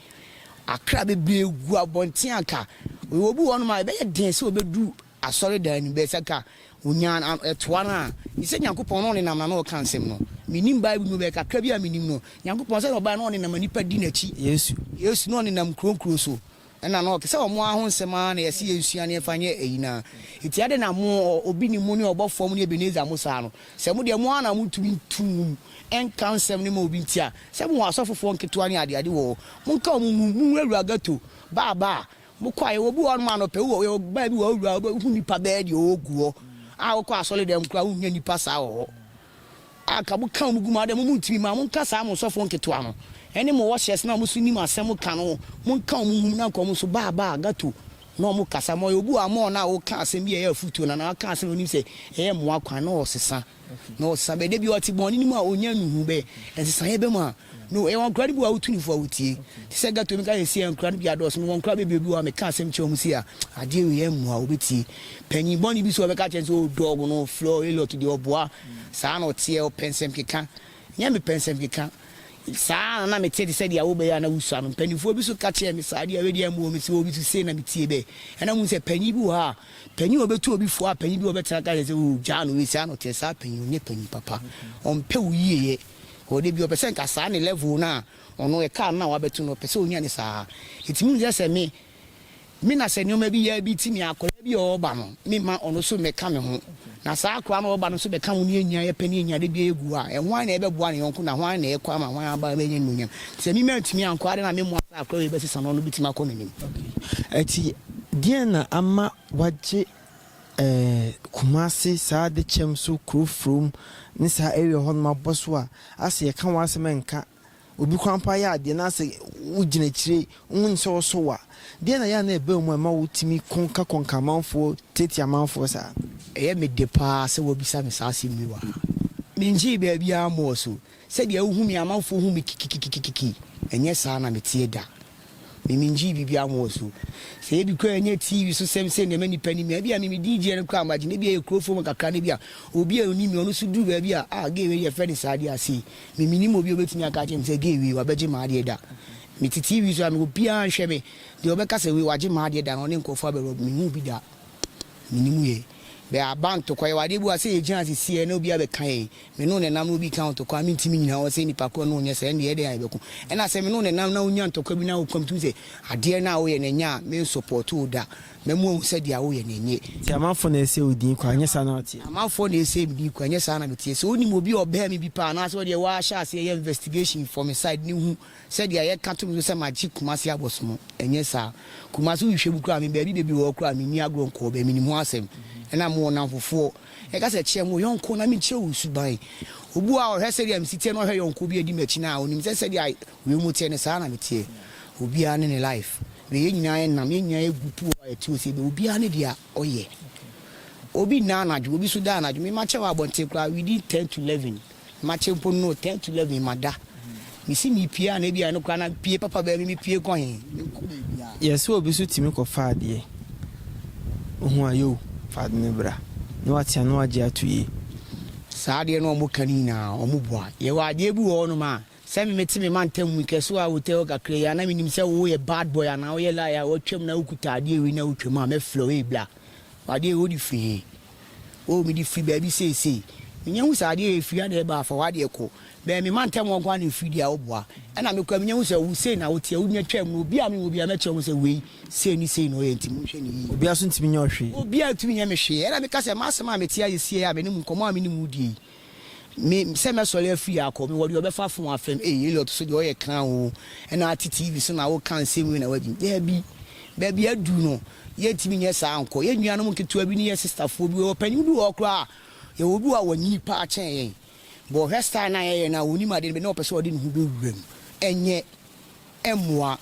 Akra bebree gu abɔnten anka wɔwɔ bi wɔ hɔnom a ɛbɛyɛ den sɛ wɔbɛduru asɔredan no mu. Bɛyɛ sɛ anka wɔnya no a, ɛtoa no a, gye sɛ Nyankopɔn na ɔnenam na na ɔreka nsɛm no. Mennim Bible mu, bɛyɛ kakra bi a menim no, Nyankopɔn sɛdeɛ ɔbaeɛ na ɔnenam na nnipa di n'akyi. Yesu. Yesu na ɔnenam nkuro nkuro so Ɛna no ɔte sɛ ɔmo ara ho nsɛm ara na yɛse yɛnsua na yɛmfa nyɛ ɛyi no ara nti ɛde na mo ɔ obi ne mo ne ɔbɔfoɔ mo ne Ebenezer mo saa no sɛ mo deɛ mo ara na mo ntumi nto nwom nka nsɛm no ma obi nti a sɛ mo wɔ asɔfofoɔ nketewa ne ade ade wɔ hɔ mo nka ɔmo nwom mo nwura wura ghetto baa baa mo kɔ a yɛwɔ obi wɔ hɔ nom anɔpɛ wowɔ yɛwɔ baa bi wɔ hɔ wura wobɛhu nipa bɛyɛ deɛ ɔwɔ gu hɔ a wokɔ asɔre dɛm koraa wonnya nipa saa wɔ hɔ a nka mo ka wɔn gu mu adɛn mo mo ntumi ma mo nka saa mo sɔfoɔ nketewa no ɛne mo wɔhyɛs no a mo so nim asɛm ka no mo nka wɔn gu mu na nka wɔn nso baa baa gato na wɔn kasa ma ɔyɛ obi wɔ amɔɔ no a ɔka asɛm bi a ɛyɛ afutuo na na ɔka asɛm na onim sɛ ɛyɛ mmoa kwan na ɔsesa na ɔsesa bɛ dabi ɔte bɔn ne mu a ɔnya nuhu bɛ ɛsesa yɛ bɛ mu a no ɛwɔ nkura no bi wɔ a wotu ne fo a wotie te sɛ gato mi ka yɛ si yɛ nkura no bi adɔɔso mi wɔ nkura bɛ bi obi wɔ a meka asɛm kyerɛ wɔn si a adeɛ wei yɛ mmoa wɔbɛtie Panyin bɔne bi so a ɔbɛka kyerɛ no sɛ oh dog no ɔfrɛ wo Elliot deɛ ɔboa saa na ɔteɛ ɔpɛ nsɛm keka nyɛ mepɛ nsɛm keka saa na na mete te sɛ deɛ wobɛyɛ a na wosua no mpanimfoɔ bi so ka kyerɛ me saa deɛ wei deɛ mmoa me sɛ obi so sei na metie bɛ ɛna mu sɛ panyin bi wɔ ha a panyin a ɔbɛtu obi fo a panyin bi ɔbɛtena ka kyerɛ sɛ oh gyaa no wei saa na ɔteɛ saa panyin ɔnyɛ panyin papa ɔmpɛ wo yieyɛ ɔde bi ɔpɛ sɛ nka saa ne level no a ɔno ɛkaa no na wabɛto no ɔpɛ sɛ ɔnya ne saa ɛtumi hu sɛ sɛ me me na sɛ nneɛma bi yɛ bi ti me akwadaa bi a ɔreba no me ma ɔno nso mmɛka me ho na saa akwadaa no ɔreba no nso bɛka ho ne yɛnyina yɛpɛ ne yɛnyina de bi egu a ɛhwan na ɛbɛboa ne yɔnko na hwan na ɛkɔ ama hwan aba ɛbɛnyɛ ne nuonyam sɛ me mantumi ankɔ ade na me mmoa saa akwadaa wei bɛsesa no ɔno bɛtumi akɔ n'anim. Ɛti deɛn na ama wagye eh, Kumasi saa adekyɛm so kuro from ne saa area hɔ nom abɔ so a asɛ yɛka wɔn asɛm nka Obi kwan paa yɛ adeɛ na sɛ wogyina akyire wohu no sɛ ɔso wo a, deɛn na ɛyɛ a na ɛba wo mu a ɛma wotumi ko ka kɔnka amanfoɔ tiatia amanfoɔ saa? Ɛyɛ me dɛ paa sɛ woabisa me saa asɛm yi wɔ ha. Mengyee baabiara mmɔɔ so. Sɛdeɛ wohu me a amanfoɔ hu me kikikikikiki, ɛnyɛ saa na meteɛ da. Mimingyee biribiara mo wɔ so. Sɛ ebi koraa nyɛ TV so sɛm sɛ nea ɛma nnipa nim me a, ebia mimi din gyeɛ no koraa magye no, ebia ɛyɛ kuro fam kakra no ebia obi a onim me ɔno nso duru baabi a, ah gay wei deɛ ɛfrɛ no saa deɛ a sei, me menim obi a obetumi aka akyerɛ me sɛ gay wei wabɛgye m'adeɛ da. Mete TV so a me obiara nhwɛ me, deɛ ɔbɛka sɛ wei wagye m'adeɛ da no ɔne nkurɔfoɔ abɛ rob menhuu bi da. Menim yɛn. Bɛɛ abanto kɔ yɛwɔ adeɛ bi wɔ ha sɛ yɛgyina ase si a ɛna obi abɛka yɛn. Me ne wo na ɛnam na obi ka ntɔkwa a mentumi nnyina hɔ sɛ nnipa korɔ na ɔnyɛ saa ɛndeɛ ɛdɛn a yɛbɛko? Ɛna sɛ me ne wo na ɛnam na wonya ntɔkwa bi na wo komtu sɛ adeɛ no a woyɛ no ɛnyɛ a mensɔpɔɔto wo da, mɛmo ahu sɛ deɛ woyɛ no ɛnyɛ. Nti amanfoɔ na ɛsɛ wo din kwan ɛnyɛ saa na woteɛ? Amanfoɔ na ɛsɛ me din kwan ɛnyɛ saa na meteɛ? Sɛ wonim obi a ɔbɛn me bi paa anaasɛ ɔdeɛ wahyɛ aseɛ yɛ investigation for me side no hu sɛ deɛ yɛka to me so sɛ magye Kumasi abɔsomo ɛnyɛ saa. Kumasi wohwehwɛ mu koraa a me baabi bebree wɔ hɔ koraa a menni agorɔ nkɔɔ bɛɛ menim ho asɛm ɛna mewɔ nnamfofoɔ Yɛka sɛ, Kyerɛ me wo yɔnko na menkyerɛ wo wo suban. Obu a ɔhwɛ sɛdeɛ me si teɛ na ɔhwɛ yɔnko bi a ɔdi m'akyi no a, ɔnim sɛ sɛdeɛ wiem teɛ no, saa ara na meteɛ. Obiara ne ne life. Na yɛn nyinaa yɛ nam, yɛn nyinaa yɛ gu puo a yɛte ose bɛ. Obiara ne deɛ ɔyɛ. Obi nna anadwo, obi nso da anadwo. Me makyɛ wɔ abɔnten koraa within ten to eleven. Makye mpo no ten to eleven mada mesi mepie a na ebia ɛno koraa na pie papa bɛyɛ me mepie kɔ he menkɔ baabiaa. Yɛ sɛ obi so tumi kɔ fa adeɛ ohu a yoo fa ade no bra na watea na wagye ato yie. Saa adeɛ no a wɔka no nyinaa wɔn boa. Yɛwɔ adeɛ bi wɔ hɔ nom a sɛ me mete me mantam mu kɛ so a wotɛ hɔ kakra yi a na menim sɛ wo yɛ bad boy anaa woyɛ liar a watwam na wokuta adeɛ wei na wotwam a mɛfrɛ wo ei bla fa adeɛ wei wode firi he. O mede firi baabi seesei. Menya hu sɛ adeɛ a ɛfiri na ɛba afa w'adeɛ kɔ. Bɛn me mantam hɔ nko ara na ɛfiri deɛ a woboa. Ɛnna mekɔ a, menya hu sɛ wo sei na woteɛ, wonya twaam no, obiara a menwɔ biara mɛkyerɛ mo sɛ wei, sei ne sei na ɔyɛ nti monhwɛ no yie. Obiara nso ntumi nyɛ wo hwee. Obiara ntumi nyɛ me hwee. Ɛnna meka sɛ, M'asɛm a mete ayɛ sie yi a me ne mo nkɔmmɔ a me ne mo redie yi, Me, sɛ mɛsɔre afiri ha akɔ, mewɔ deɛ ɔbɛfa fon afrɛm, ei Elliot so deɛ ɔyɛ kraa oo, ɛna ate TV so na woka nsɛm wei na wadwini, daabi, baabi aduru no, yɛntumi nyɛ saa nkɔ, yɛ nuanom nketewa bi ne yɛ sistafoɔ bi, yɛwɔ panin bi wɔ hɔ koraa a, yɛwɔ bi wɔ hɔ a wanyini paa kyɛn yɛn, but ɔhwɛ style no a yɛyɛ no a, ɔnim adeɛ no, but na ɔpɛ sɛ ɔde ne ho bɛwura mu, ɛnyɛ. mmoa.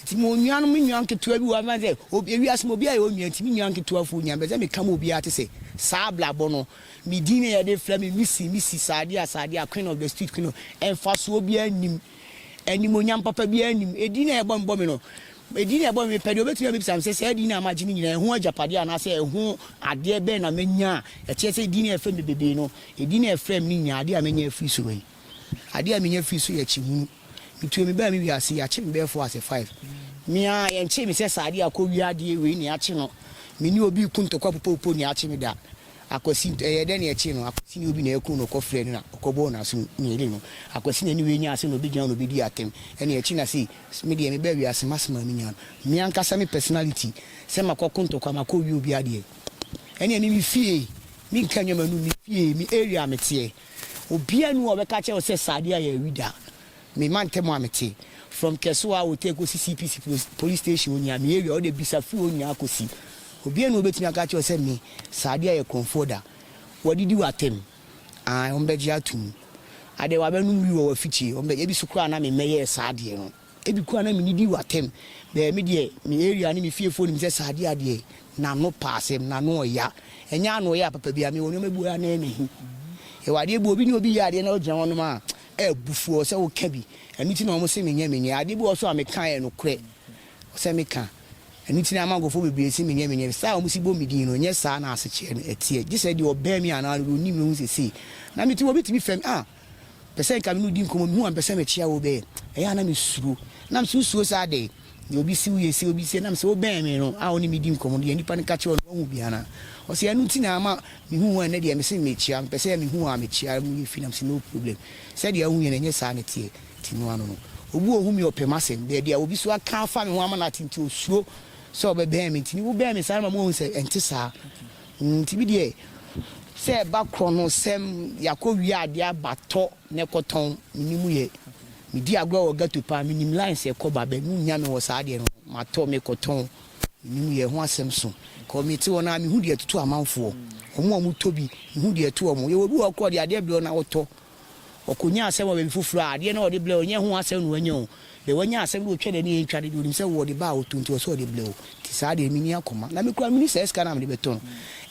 Nti mewɔ nuanom, me nua nketewa bi wɔ ha, mɛka sɛ obi, ewiase mu obiara yɛ wo nua, nti me nua nketewa fo nya, mepɛ sɛ meka ma obiara te sɛ, saa abrabɔ no, me din na yɛde frɛ me, Missy, Missy, Sadia, Sadia, Queen of the street, Queen of, mfasoɔ biara nnim, animuonyam papa biara nnim, edin a yɛbɔ me bɔ me no, edin a yɛbɔ me, mepɛ deɛ obɛtumi abisa me sɛ, saa din no a magye no nyinaa, ɛho agyapadeɛ anaasɛ ɛho adeɛ bɛn na manya a ɛkyerɛ sɛ edin a yɛfrɛ me bebee no, edin a yɛfrɛ me no nyinaa, adeɛ a manya afiri soro yi. Adeɛ a menya firi so yɛ kyehunu. Metuo mebaa me wiase, yɛakye me bɛyɛ four ase five. Me ara, yɛnkyee me sɛ saa adeɛ a kɔ wia adeɛ wei na yɛakye no. Me ne obi reko ntɔkwa popopo na yɛakye me da. Akwasi, ɛyɛɛ dɛn na yɛkyee no? Akwasi ne obi na yɛkoo no, ɔkɔ frɛɛ no na ɔkɔ bɔɔ no aso mmieni no. Akwasi na ne wei nyaa ase na ɔbɛgyina hɔ na ɔbɛdii atɛm ɛna yɛakye no na sei, me deɛ mebaa wiase m'asɛm a menya no. Me ankasa me personality sɛ makɔ ko ntɔkwa, makɔ wia obi adeɛ ɛneɛ me me fie, menka nneɛma num, me fie, me area a meteɛ. Obiara nni hɔ a ɔbɛka akyerɛ wo sɛ saa adeɛ a yɛawi da. Me mantam a mete, from Kesewa a wɔtaa kɔsi CPC police station hɔ nyinaa, me area hɔ deɛ bisa firi hɔ nyinaa kɔsi. Obiara nni hɔ a ɔbɛtumi aka akyerɛ wo sɛ me, saa adeɛ a yɛ Kronfoɔ da. Wɔadidi wo atɛm. Ae, wɔbɛgye atom. Adɛn, wɔabɛnom wii wɔ w'afikyire. Wɔbɛgye, ebi so koraa na me mmɛyɛɛ saa adeɛ no. Ebi koraa na minnidii wɔ atem. Bɛɛ me deɛ, me area ne me fiefoɔ nim sɛ saa adeɛ a deɛ n'ano pa asɛm, n'ano ɔya. Ɛnyɛ ano ɔya papa biara, mewɔ nneɛma bi wɔ hɔ a na ɛyɛ me ahi. Yɛwɔ adeɛ bi wɔ hɔ, obi ne obi yɛ adeɛ na wogyina hɔnom a, ɛyɛ abufuo sɛ woka bi. Ɛno nti na wɔse menyɛ menyɛ. Adeɛ bi wɔ hɔ nso a meka a ɛyɛ nokorɛ sɛ meka. Ɛno nti na ama nkurɔfoɔ bebree se menyɛ menyɛ. Style a wɔsi bɔ me din no, ɛnyɛ saa na asekyerɛ no teɛ. Gye sɛ deɛ ɔbɛn me anaa deɛ ɔnim me hu sɛ sei na mete. Obi tumi frɛ me, ah! Pɛsɛ nka me ne wo di nkɔmmɔ, mehu a mepɛ sɛ mekyea wo bɛɛ, ɛyɛ a na mesuro. Na mesɛ wo suro saa dɛn? Nea obi se wo yɛ sei, obi se na mesɛ wobɛn me no a wo ne me di nkɔmmɔ no yɛ nipa no ka kyerɛ wo no woahu bi anaa? Ɔse ɛno nti na ama mehu wo a nnɛ deɛ mese mekyea, mepɛ sɛ mehu wo a mekyea mu yɛ fi na mesɛ no problem, sɛdeɛ wohu yɛ no ɛnyɛ saa na ɛteɛ, nti no ano no. Obi wɔ ho me ɔpɛ m'asɛm, baabi a obi nso aka afa me ho ama no ate nti osuro sɛ ɔbɛbɛn me nti ne wobɛn me saa no ma moahu sɛ ɛnte saa. Ntsi bi deɛ, sɛ ɛba korɔ no sɛm yɛakɔ wie adeɛ aba tɔ na ɛkɔtɔn, menni mu yɛ. Medi agorɔ wɔ ghetto paa, menim lines a ɛkɔ ba bɛ, monnya me wɔ saa adeɛ no ho, matɔ, mekɔtɔn, menni mu yɛ, ɛho asɛm sõ. Cause mete hɔ no ara, mehu deɛ ɛtoto amanfoɔ, wɔn a wɔtɔ bi, mehu deɛ ɛto wɔn. Yɛwɔ obi wɔ hɔ koraa a, ɔde adeɛ brɛ wo na wotɔ, Ɔkɔnya asɛm wɔ baabi foforɔ a, adeɛ no a ɔde blɛ wo no, nyɛ ɛho asɛm na wanya o. Deɛ wanya asɛm no, ɔtwa n'ani antwa no deɛ, ɔnim sɛ wo ɔde baa ɔtoo nti ɔsɛ sɛ ɔde blɛ wo. Nti saa deɛ menni akoma. Na me koraa menni saa sika no a mede bɛtɔ no.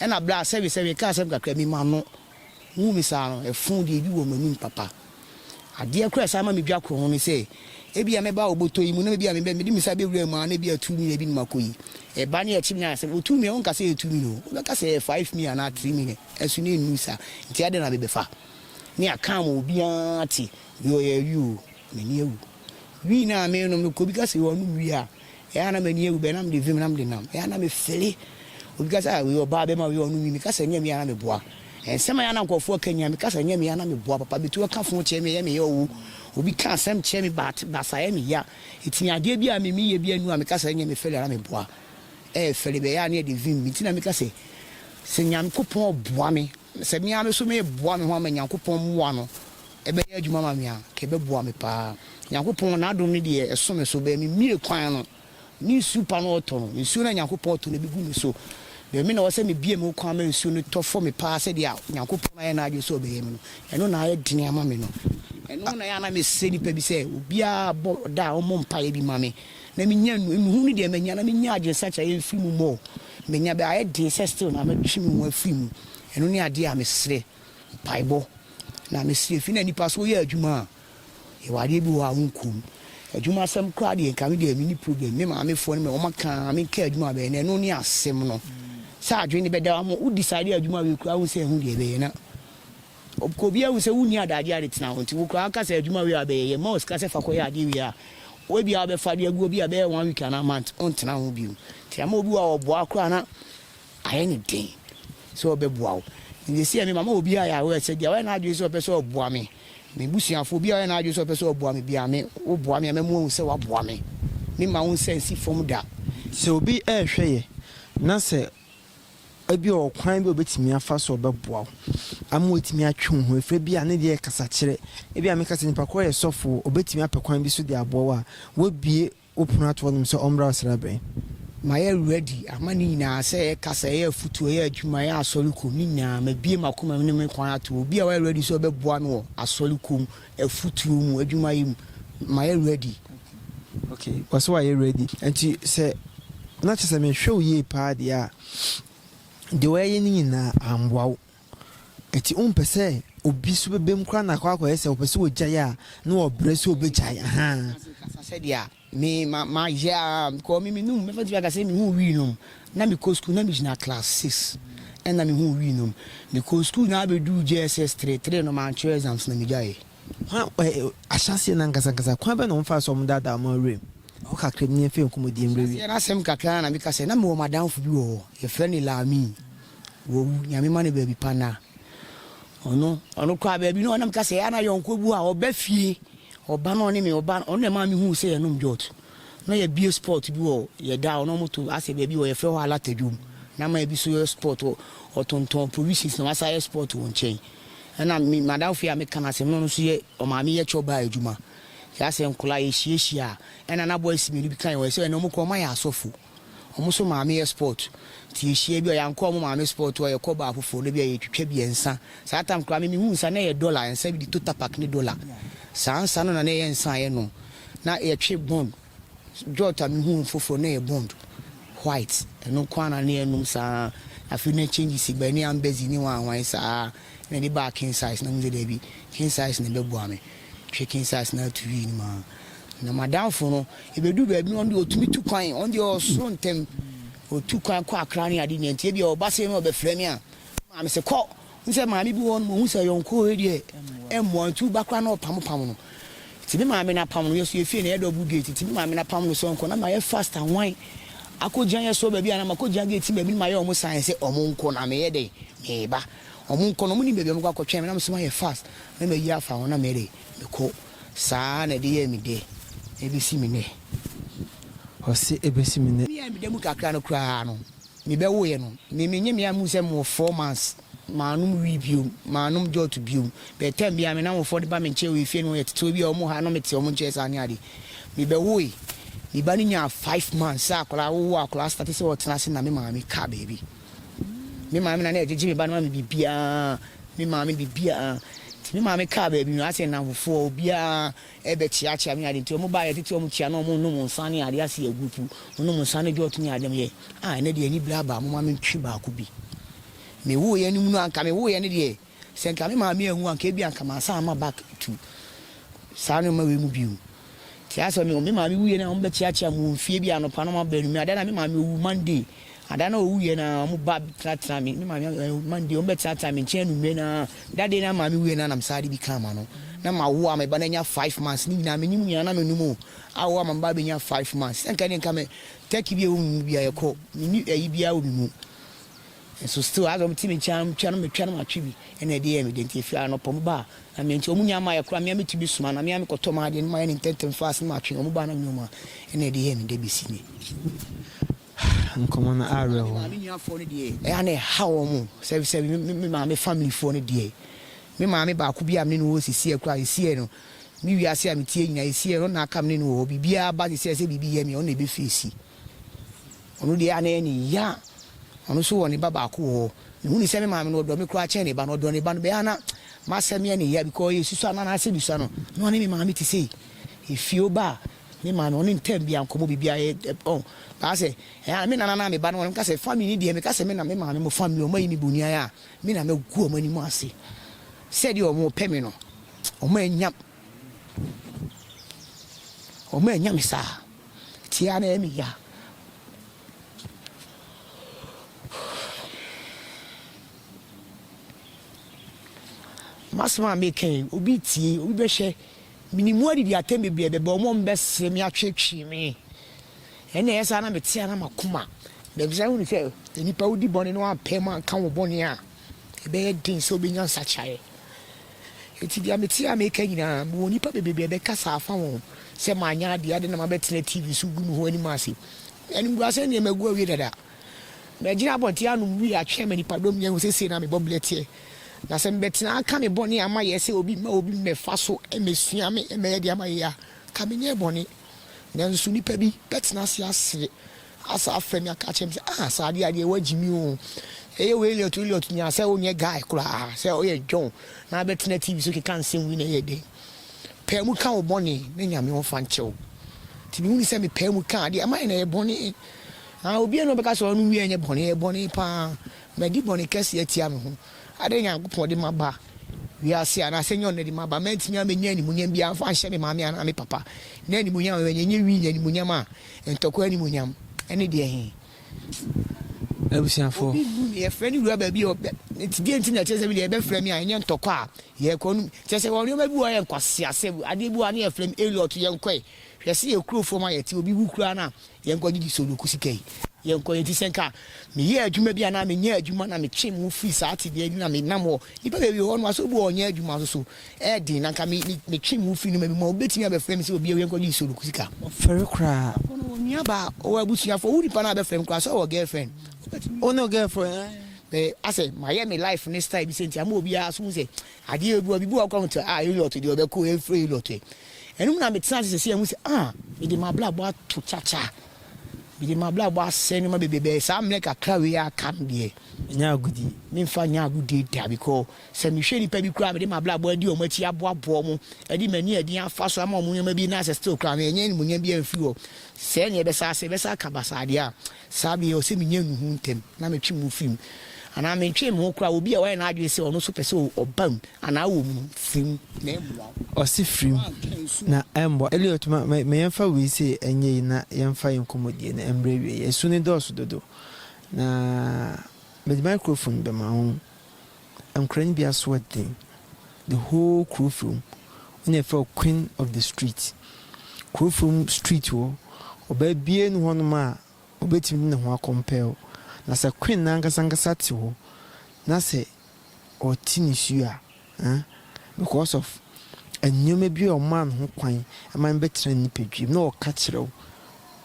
Ɛna berɛ a sɛbe sɛ mekaa asɛm kakra bi ma no, ɔhuu me saa no, ɛfoo deɛ bi wɔ m'anim papa. Adeɛ koraa a ɛsan ma medwa korɔ ho ne sɛ, ebia mɛba wɔ bɔtɔ yi mu na ebia mebɛ, mede me nsa bɛwura mu a na ebia two million bi na makɔ yi. Ɛba na yɛkye me a, sɛ ɔtu me a, ɔnka sɛ ɛyɛ two million o, ɔbɛka sɛ ɛyɛ five million anaa three million. Nanso na ɛnnuru saa. Nti adɛn na mebɛfa? ne akaa ma obiara te deɛ ɔyɛ awi o m'ani awu wii no a menom no kɔ bi ka sɛ wɔ anom wii a ɛyɛ a na m'ani awu bɛɛ na mede vim na mede nam ɛyɛ a na mefele obi ka sɛ a wei ɔbaa bɛma wei ɔnom wii meka sɛ nyɛ mea na meboa nsɛm a yɛ na nkurɔfoɔ aka nyia meka sɛ nyɛ mea na meboa papa bɛtu aka fo kyerɛ me ɛyɛ meyɛ ɔwo obi ka asɛm kyerɛ me baate basa ɛyɛ meya ɛtumi adeɛ bi a me meyɛ bi anu a meka sɛ nyɛ mefele na meboa ɛyɛ fele bɛyɛ a ne ɛde vim me nti na meka sɛ sɛ nyame kopɔn ɔboa me Na sɛ me ara me nso mereboa me ho ama Nyankopɔn mmoa no bɛyɛ adwuma ama me a, nka ɛbɛboa me pa ara. Nyankopɔn N'adom no deɛ, ɛso me so. Bɛɛ memmue kwan no, ne nsuo pa no ɔtɔ no. Nsuo no a Nyankopɔn ɔtɔ no bɛgu me so. Bɛɛ me na ɔwɔ sɛ mebue me ho kwan ma nsuo no tɔ fɔ me pa ara sɛdeɛ Nyankopɔn ayɛ N'adwene sɛ ɔbɛyɛ me no. Ɛno na ayɛ dene ama me no. Ɛno na ɛyɛ a na mesrɛ nnipa bi sɛ obiara bɔ da a ɔmmɔ mpaeɛ bi ma me na menya no. Nnuhuu no deɛ manya na menya adwenesakyera yɛ mfiri mu mmɔ o. Menya bɛ ayɛ den sɛ still na mɛtwe me ho afiri mu. Ɛno ne adeɛ a mesrɛ mpaebɔ. Na mesrɛ firi na nipa sɛ woyɛ adwuma a, yɛwɔ adeɛ bi wɔ hɔ a wonkɔ mu. Adwuma asɛm koraa deɛ nka medeɛ menni problem. Me maamefoɔ no me wɔn aka a menka adwuma bɛn na ɛno ne asɛm no. Sɛ adwene bɛda wo ama wo decide adwuma wei koraa wohu sɛ ɛho deɛ ɛbɛyɛ na. Ɔpkɔ obiaa hu sɛ wonni adagyeɛ a de tena hɔ nti wo koraa woka sɛ adwuma wei a bɛyɛ yɛ ma wo sika sɛ fa kɔyɛ adeɛ wei a wobia wobɛfa de agu hɔ bia ɛbɛyɛ one week anaa month wontena ho bio nti ama obi wɔ a ɔboa koraa na ayɛ ne den sɛ ɔbɛboa wo nti sɛsi ɛme mama obi a yɛahoɛ sɛ bia wayɛ n'adwene sɛ ɔpɛ sɛ ɔboa me me busuafoɔ obi a wayɛ n'adwene sɛ ɔpɛ sɛ ɔboa me bia me woboa me a mɛmo ahu sɛ waboa me me ma wo nsa nsi fam da. Sɛ obi ɛɛhwɛ yɛ na sɛ Ebia ɔwɔ ɔkwan bi a obetumi afa so a ɔbɛboa wo ama woatumi atwe wo ho afiri. Ebia ne deɛ yɛ kasakyerɛ. Ebia meka sɛ nipa korɔ yɛ sɔfo o, obetumi apɛ kwan bi so de aboa wo a, woabue wo pono ato hɔnom sɛ ɔmmra ɔsrabɛn. Mayɛ ready ama ne nyinaa, sɛ ɛyɛ kasa, ɛyɛ afutuo, ɛyɛ adwuma, ɛyɛ asɔre kɔ mu, ne nyinaa, mabue m'akoma mu ne me kwan ato hɔ. Obi a wayɛ ready sɛ ɔbɛboa no wɔ asɔre kɔ mu afutuo mu adwuma yi mu mayɛ ready. Ok ɔsɛ wayɛ ready nti sɛ na kyɛ sɛ mehwɛ wo yie paa deɛ a deɛ wayɛ no nyinaa amboa wo ɛti wompɛ sɛ obi so bɛbɛm koraa na akɔ akɔyɛ sɛ ɔpɛ sɛ ɔgyae a na ɔbrɛ sɛ ɔbɛgyae ahaa. Sɛdeɛ Me ma ma yɛ aa because me me num mɛfa tumi aka sɛ me hu wii nom na me kɔ school na me gyina class six ɛna me hu wii nom me kɔ school na abɛ duu JSS three three no man kyerɛ exams na me gya yɛ. Kwan ɛ ɛ ahyɛaseɛ no ankasa ankasa kwan bɛn na wɔn faa so a wɔn daadaa wɔn awura mu? Ɛhɔ kakra mu na yɛn fa yɛn nkɔmmɔdie mmerɛ wie. Ahyɛaseɛ no asɛm kakra na me ka sɛ na me wɔ madamfo bi wɔ hɔ yɛ frɛ no Laami wawu Nyame ma no baabi pa nna ɔno ɔno koraa baabi no ɔnam ka sɛ ɛyɛ a na yɔnko bi wɔ hɔ a ɔba fie Ɔba no ɔne me ɔba ɔno na ɛmaa mehuu sɛ yɛnom jot. Na yɛabue spot bi wɔ yɛn da hɔ na wɔto asɛ baabi hɔ yɛfrɛ hɔ Alata Dwom. Na ama ebi nso yɛ spot hɔ ɔtontɔn provisions na wasan yɛ spot wɔ nkyɛn. Ɛna me madamfo yi a meka no asɛm no ɔno nso yɛ ɔmaame yɛ chore bar adwuma. Yɛasɛ nkwadaa yɛhyiahyia a ɛna na boys mmienu bi ka yɛn ho sɛ ɛna wɔkura wɔayɛ asɔfo. Ɔmo nso maame yɛ sport nti yehyia bi a yankɔ ɔmo maame sport hɔ yɛkɔ baa foforo no bi a yetwitwa bi nsa saa tam koraa me mehu nsa na ɛyɛ dollar nsa bi de totapak ne dollar saa nsa no na na ɛyɛ nsa a yɛnom na yɛtwe bond jot a mehu wɔn foforo na ɛyɛ bond white ɛno nko ara na na yɛnom saa afei na changes baa ne ambezi ne wanwan saa na ɛde baa king size na mo sɛ daabi king size na ɛbɛboa me. Twe ke nsase no ara tu wii no mu ara. Na m'adamfo no, yɛbɛduu baabi no, ɔno deɛ ɔtumi tu kwan, ɔno deɛ ɔwɔ soro ntɛm. Ɔtu kwan kɔ Accra ne adeɛ nyinaa nti ebia ɔba sei na ɔbɛfrɛ me a, me maame se kɔ. Wohu sɛ maame bi wɔ hɔnom a, ɔhu sɛ yɔnkoɔ wei deɛ ɛmmoa nti woba koraa na ɔpamopam no. Nti me maame no apam no, yɛn nso yɛn fie no ɛyɛ double gate nti me maame no apam no sɛ ɔnkɔ na mayɛ fast ahwan akɔgyina yɛn sɔɔ baabi anaa makɔgyina gate no baabi na mayɛ wɔn sign sɛ wɔnkɔ na meyɛ dɛn? Mereba. Ɔmo nkɔ no ɔmo nim baabi a ɔmo kɔ akɔtwɛn me na me nso mayɛ fast na mayi afa ho na me de me kɔ saa na ɛde yɛɛ me dɛ ɛbesi me nɛ. Ɔse ɛbesi me nɛ. Me a me da mu kakra no koraa no me bɛ woeɛ no me me nyɛ me a mu sɛ me wɔ four months maa nom wii biom maa nom jot biom but time biara me namfofoɔ de ba me nkyɛn wɔ efie no yɛ tete bia ɔmo ha na me te ɔmo nkyɛn saa ne ade me bɛ woe me ba no nyaa five months sɛ akwadaa wowo akwadaa starte sɛ ɔtena ase na me maame kaa baabi. Me maame na na ɛgyegye me ba no ma me biribiara, me maame biribiara. Nti me maame kaa baabi no, ase nnamfofoɔ obiara ɛrebɛkyeakyea me ade nti wɔn baeɛ tete wɔn kyia na wɔnom nsa ne adeɛ ase yɛ group, wɔnom nsa ne jot ne adeɛ meyɛ ah ɛnɛ deɛ anibere aba momma mentwe baako bi. Mewoeɛ no mu no anka mewoeɛ no deɛ. Sɛ nka me maame anwu a, nka ebia nka mansan amma back to saa nneɛma wei mu bio. Te asɛ me me maame wuiɛ no a, wɔbɛkyeakyea me wɔ mfie bi anɔpa no wɔn baanu me. Ada na me maame owu Monday. Ada na owuiɛ no a, wɔn ba tenatena me. Me maame eh, Monday wɔn bɛtenatena me nkyɛn anummerɛ no ara. Da day na maame wuiɛ no a, na mesan de bi kaa ma no. Na mawo a me ba no anya five months. Ne nyinaa menye mo nyinaa na menom o. Awo ama me ba abɛnya five months. Sɛ nka ɛneɛ nka me turkey bi a ɛwɔ me mu biara ɛkɔ. Menni ayi biara wɔ me mu. Nso still asɛ ɔmo te me nkyɛn a tua no me tua no matwe bi ɛna ɛde yɛ me dɛ nti efie a anɔpa ɔmo ba a na me nti ɔmo nnya mmaeɛ koraa me a me tu bi soma na me a me kɔ tɔ m'adeɛ no mayɛ no ntɛntɛm fast na matwe ɔmo ba a na me ɔmo a ɛna ɛde yɛ me dɛ besi nnɛ. Nkɔmɔ no awerɛhow. Maame nua foɔ no deɛ ɛyɛ a na ɛhaw ɔmo sɛ sɛ me maame family foɔ no deɛ me maame baako bi a me ne no wɔ hɔ sisi a koraa esi ɛ no me wiase a me tie nyinaa esi ɛ no na aka me ne no wɔ hɔ biribiara ba sisi a sɛ biribi yɛ me a ɔno na ɛbɛ face. Ɔno deɛ ana ɛyɛ ne ya. Ɔno nso wɔ ne ba baako wɔ hɔ. Mehu no sɛ me maame no ɔdɔ me koraa kyɛn ne ba no. Ɔdɔ ne ba no bɛyɛ ana m'asɛm yɛ ne ya because yɛ susua no anaasɛ mesua no na ɔne me maame te sei. Efie oba a me maame ɔne ntɛm biara nkɔmɔ biribiara yɛ ɔn baa sɛ ɛyɛ ana me nana na me ba no ɔne meka sɛ family no deɛ meka sɛ me na me maame mo family ɔmo ayi me bonian a me na mɛgu ɔmo anim ase sɛdeɛ ɔmo pɛ me no ɔmo annya ɔmo annya me saa. Tia na ɛmi ya. M'asɛm a meka yi, obi tie, obi bɛhwɛ. Menim wɔadidi atɛm bebree, bɛba wɔn a wɔbɛsere me, atweetwee me. Ɛnna ɛyɛ saa na mete ara m'akoma. Baabi sɛ wohunu sɛ nnipa wodi bɔne na wɔampae mu anka wo bɔne a, ɛbɛyɛ den sɛ wobɛnya nsakyeraeɛ. Enti deɛ mete a meka nyinaa, mewɔ nnipa bebrebe a ɛbɛkasa afa wɔn ho sɛ manyɛ adeɛ, adɛn na mabɛtena TV so regu me ho anim ase? Animguasɛm deɛ, magu awie dada. Magyina abɔnten anom wii atwe ama nnipadɔm nyinaa ahu sɛ sei na me bɔberɛ teɛ. Na sɛ mebɛtena aka me bɔne a mayɛ sɛ obi mma obi mmɛfa so mmɛsua me mmɛyɛ deɛ mayɛ yi a, anka menyɛɛ bɔne. Nanso nnipa bi bɛtena ase asere Asa frɛ me aka kyerɛ me sɛ ah saa adeɛ adeɛ woagye me oo ɛyɛ wei Elliot Elliot nya sɛ wonyɛ guy koraa sɛ woyɛ John na abɛtena TV so keka nsɛm wei na ɛyɛ dɛn paa mu ka wo bɔne na Nyame ɔmfa nkyɛ wo nti mehunu sɛ me paa mu ka adeɛ ɛma yɛ na ɛyɛ bɔne ah obiara na ɔbɛka sɛ ɔno wia nyɛ bɔne ɛyɛ bɔne paa madi bɔne kɛse atia me ho adɛn Nyankopɔn de maba wiase anaasɛ nyɛ ɔno na ɛde maba mantumi amɛnya animuonyam biara mfa nhyɛ me maame anaa me papa na animuonyam a manya nyɛ wii na animuonyam a Ntɔkwa animuonyam ne deɛ he? Abusuafoɔ. Obi mmu me, yɛfrɛ ne wura baabi o, deɛ nti na ɛkyerɛ sɛ me deɛ yɛbɛfrɛ me a ɛnyɛ ntɔkwa a yɛɛkɔ no mu? Kyerɛ sɛ wɔ nnoɔma bi wɔ hɔ a yɛ nkwaseasɛ, adeɛ bi wɔ hɔ a ne yɛfrɛ me Elliot yɛnkɔe, hwɛ se yɛ kuro fam a yɛte obi wu koraa no a yɛnkɔ gyegye soloku sika yi, yɛnkɔ enti sɛ nka meyɛɛ adwuma bi anaa menyaa adwuma na metwee me ho firii saa tebea yi mu na menam hɔ, nnipa bebree wɔ hɔ nom a sɛ obi wɔ hɔ a ɔnyɛ adwuma nso so, ɛyɛ den na anka me me twe me ho firi nneɛma bi mu a wobɛtumi abɛfrɛ me sɛ obi awia nkɔgye nsuo no kɔsi ka. Ɔfɛre koraa. Ɔno ɔwɔ nuabaa ɔwɔ abusuafoɔ wo nipa no a bɛfrɛ me koraa sɛ ɔwɔ girlfriend wobɛtumi. Wo no girlfriend eh. Me asɛ mayɛ me life no style bi sɛ nti ama obiara nso hu sɛ adeɛ obi wɔ bibi wɔ koraa hu sɛ ah Elliot deɛ ɔbɛkɔ o ɛmfiri Elliot ɛ ɛno mu na metena ase sɛsɛ ahu sɛ ah mede m'abrabɔ ato kyakya mede m'abrabɔ asɛe nneɛma bebree bɛɛ saa mmerɛ kakra wei a aka no deɛ. Ɛnyɛ agodie. Memfa nyɛ agodie da because. Sɛ mehwɛ nnipa bi koraa a mede m'abrabɔ adi wɔn akyi aboaboa wɔn, de m'ani a ɛden afa so ama wɔn nneɛma bi na asɛ still koraa no, ɛnyɛ animuonyam biara mfiri hɔ. Sɛɛ na yɛbɛsan asɛ, yɛbɛsan aka basaa deɛ a, saa bere yi ɛwɔ sɛ minya nnuhu ntɛm na metwe me ho firi mu. Anaa mentwee me ho koraa, obi a wayɛ n'adwene sɛ ɔno nso pɛ sɛ ɔba mu anaa wɔ mu no, firi mu na ɛmmoa wo. Ɔse firi mu na ɛmmoa. Elliot, ma yɛmfa wei sei ɛnyɛ yi na yɛmfa yɛn nkɔmmɔdie no mmrɛ awieɛ. Asu no dɔɔso dodo na mede microphone bɛma wo Ankorɛ no bi aso yɛ den, the whole kuro fam, wo na yɛfrɛ wo queen of the street. Kuro fam street hɔ, ɔbaa biara nni hɔnom a ɔbɛtumi de ne ho akɔmpɛɛ wo. Na sɛ queen no ankasa ankasa te hɔ na sɛ ɔte nisuo a, ah, because of nneɛma bi a ɔmaa no ho kwan ma no bɛtena ne nipadwam na ɔka kyerɛ wo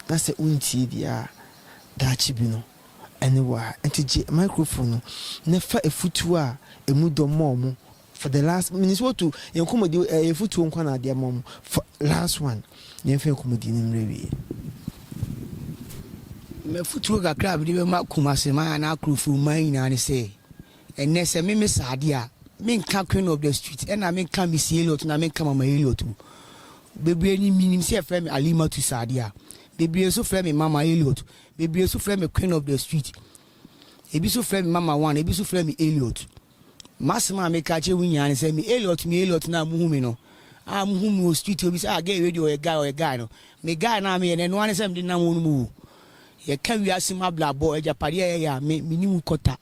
na sɛ wontie deɛ a, daakye bi no, Ɛne wo a nti gye microphone no na fa afutuo a ɛmu dɔ ma wɔn for the last menim sɛ woatu yɛn nkɔmmɔdi ɛyɛ afutuo nko na adeɛ ma wɔn for last one yɛmfa yɛn nkɔmmɔdi no mmerɛ wie. M'afutuo kakra a mede bɛma Kumaseman anaa Akurofoman nyinaa ne sɛ, ɛnnɛ sɛ me mesa adeɛ a, menka Queen of the Street ɛna menka Missy Elliot na menka Mama Elliot o. Bebree nim menim sɛ yɛfrɛ me Alimatu Sadiya. Bebree nso frɛ me Mama Elliot. Bebree nso frɛ me Queen of the Street. Ebi nso frɛ me Mama One, ebi nso frɛ me Elliot. M'asɛm a meka akyerɛ wɔn nyinaa ne sɛ, me Elliot, me Elliot no a mohu me no, a mohu me wɔ street, obi sɛ, ah, Gay wei deɛ ɔyɛ guy, ɔyɛ guy no, me guy no a meyɛ no, ɛno ara ne sɛ mede nam wɔn mu wu. Yɛka wiase mu abrabɔ, agyapadeɛ a yɛyɛ a, me, menim kɔta.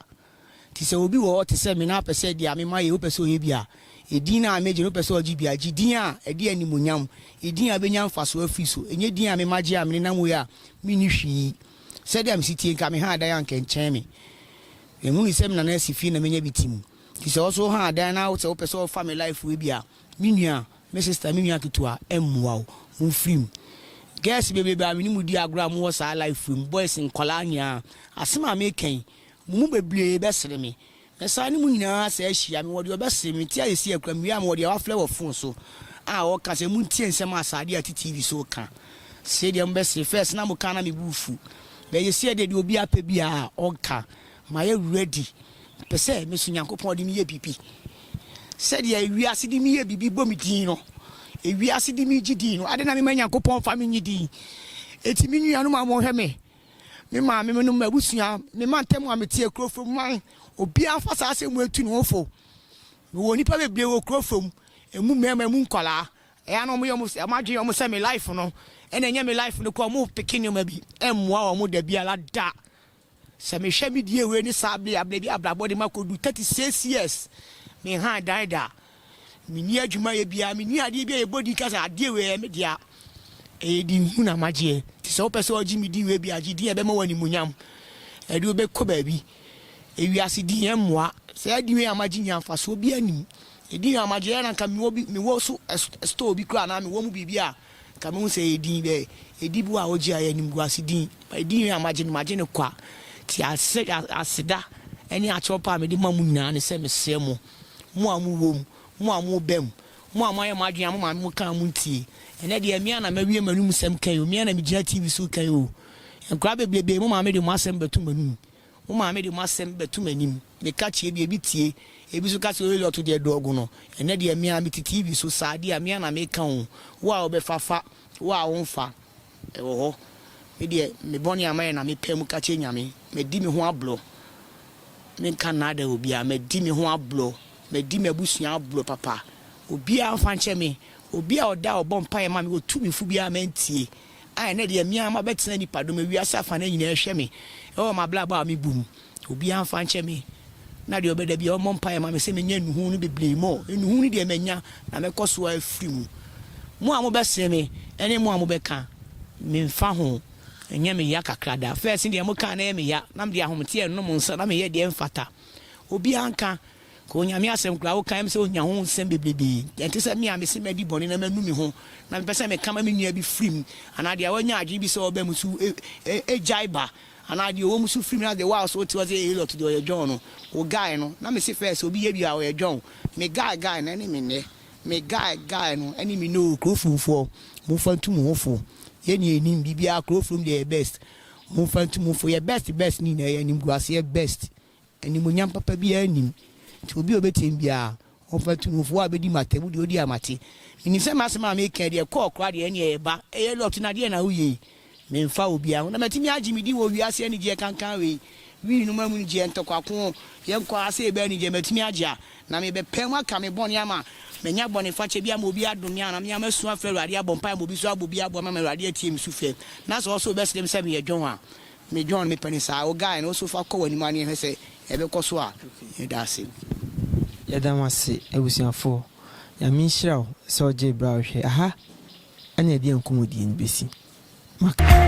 Nti sɛ obi wɔ hɔ te sɛ me na apɛ sɛ ɛde a mema yɛ wopɛ sɛ ɔyɛ bi a, edin no a megye no wopɛ sɛ ɔgye bi a, gye din a ɛde animuonyam, edin a bɛnya mfasoɔ afiri so, ɛnyɛ din a mema gye a menenam wei a menni hwee. Sɛdeɛ mese tie nka me ha adan anka ɛnkyɛn me. Menhunui sɛ me nana asi fie na manya bi tim. Nti sɛ wo so wo ha adan na wosɛ wopɛ sɛ wofa me life wei bi a, me nua, me sister, me nua ketewa, ɛmmoa wo. Momfiri mu. Girls bebrebe a menim di agorɔ a mowɔ saa life wei mu, boys nkwadaa nyinaa, asem a meka yi, Mo mu bebree bɛsere me. Mɛsan ne mo nyinaa asa ahyia. Mewɔ deɛ ɔbɛsere me. Meteɛ ayɛ sia kura. Mewie a, mewɔ deɛ wafrɛ wɔ fon so a ɔka sɛ, Montie nsɛm a Sade a ɛte TV so reka. Sei deɛ mobɛsere. First na moka na me bo fu. But ayɛ sia deɛ, deɛ obiara pɛ biara ɔka. Mayɛ ready. Mepɛ sɛ meso Nyankopɔn de meyɛ biribi. Sɛdeɛ ewiase de meyɛ biribi bɔ me din no, ewiase de megye din no. Adɛn na mema Nyankopɔn fa me nye din? Enti me nuanom a mohwɛ me me maame nom, m'abusua, me mantam a mete yɛ kuro fam man. Obiara mfa saa asɛm wei ntu ne ho fo. Mewɔ nnipa bebree wɔ kuro fam, emu mmarima, emu nkwadaa. Ɛyɛ a na wɔyɛ wɔn sɛ, wɔn adwene wɔn sɛ me life no, ɛna ɛnyɛ me life no kɔ. Wɔn peke nneɛma bi mmoa wɔn da biara da. Sɛ mehwɛ me die wei ne saa bere a bere bi abrabɔ de ma kɔdu thirty six years, me han dan da. Menni adwumayɛ biara, menni adeɛ biara a yɛbɔ din ka sɛ adeɛ wei ɛyɛ me dea. Ɛyɛ din hunu na magyeɛ. Nti sɛ wopɛ sɛ wogye me din wei bi a, gye din a ɛbɛma wo animuonyam. Ɛde wo bɛkɔ baabi. Ewiase din ɛmmoa. Saa din wei a magye nyinaa mfasoɔ biara nni mu. Edin wei a magye, ɛyɛ na nka mewɔ bi, mewɔ so store bi koraa anaa mewɔ mu biribi a, nka mehu sɛ ɛyɛ din bɛɛ. Ediboɔ a wogye a ɛyɛ animguase din. Edin wei a magye no, magye no kwa. Nti aseda ne akyɛwpa a mede ma mo nyinaa ne sɛ mesrɛ mo. Mo a mowɔ mu, mo a moba mu, mo a moayɛ mo adwene a mo maame mo ka a montie. Ɛnnɛ deɛ me a na mawie m'anum sɛm ka yi o, me a na megyina TV so ka yi o. Nkwadaa bebrebee mo maame de mo asɛm bɛto m'anum, mo maame de mo asɛm bɛto m'anim, meka kyerɛ bi, ebi tie, ebi nso ka sɛ o Elliot deɛ dɔ gu no. Ɛnnɛ deɛ me a mete TV so saa deɛ a me a na meka o, wo a wobɛfa fa, wo a womfa. Ɛwɔ hɔ. Me deɛ, me bɔne a mayɛ na mepae mu ka kyerɛ Nyame. Madi me ho aborɔ. Menka nnaadae obiara. Madi me ho aborɔ. Madi m'abusua aborɔ papa. Obiara mfa nkyɛ me. Obi a ɔda a ɔbɔ mpaeɛ ma me, ɔtu me fo biara mantie. A ɛnnɛ deɛ, me ara mabɛtena nnipadɔm, wiase afanan nyinaa hwɛ me wɔ m'abrabɔ a mebu mu. Obiara mfa nkyɛ me, na deɛ ɔbɛda biara ɔmmɔ mpaeɛ ma me sɛ mɛnya nnuhuu no bebree mɔ. Nnuhuu no deɛ manya, na mɛkɔ so ara afiri mu. Mo a mobɛsere me ne mo a mobɛka, memfa ho. Ɛnyɛ me ya kakra da. Fɛɛse deɛ mokaa na ɛyɛ me ya, na mede ahometeɛ renom nsã, na meyɛ deɛ ɛmfata. Obiara nka, ka Onyame asɛm koraa. Wokae me sɛ ɔnya ho nsɛm bebrebe. Ɛnte sɛ me a mese madi bɔne na manu me ho, na mepɛ sɛ meka ma me nua bi firi mu, anaa deɛ wanya adwene bi sɛ ɔbɛn mu nso gyae ba Anaa deɛ ɔwɔ mu so firi mu na the while so wote hɔ sɛ Elliot deɛ ɔyɛ John no wo guy no na mese first sɛ obi yɛ biaa ɔyɛ John me guy guy no ɛne me nnɛ me guy guy no ɛne me nnɛ oo Kurofromfoɔ momfa ntu mo ho fo yɛ nyinaa yɛnim biribiaa Kurofrom deɛ yɛ best momfa ntu mo fo yɛ best best ne nyinaa yɛnim Guaseɛ best Animuonyam papa biara nnim. Nti obi a ɔbɛtie me biara, ɔmfa nto ne ho. Fo a ɔbɛdi m'atam deɛ, ɔdi a mate. Menim sɛ m'asɛm a mereka yi deɛ, ɛkɔ ɔkora deɛ, ɛnneɛ ɛyɛ ba, ɛyɛ Lot no a, deɛn na woyɛ yi? Memfa obiara ho. Na matumi agye me din wɔ wiase anigyeɛ kankan wei, wii no mu amunigyeɛ, ntɔkwako, yɛnkɔ ara sɛ yɛbɛyɛ anigyeɛ, matumi agye a, na merebɛpae mu aka me bɔne ama manya bɔnefakyɛ bi ama obi adom me anaa me a masu afrɛ Awurade, abɔ mpaeɛ ama obi nso abɔ bi aboa me ama Awurade atie me sufrɛ. Na sɛ ɔsoro bɛsrɛ me sɛ meyɛ dwon a, Me John me pɛ no saa. O guy no so fa kɔ w'anim ara na yɛnhwɛ sɛ ɛbɛkɔ so a. Yɛda ase. Yɛda mo ase abusuafoɔ. Nyame nhyira wo sɛ wogyee berɛ a wohwɛɛ. Aha ɛna yɛde yɛn nkɔmmɔdie no bɛsi. Mac.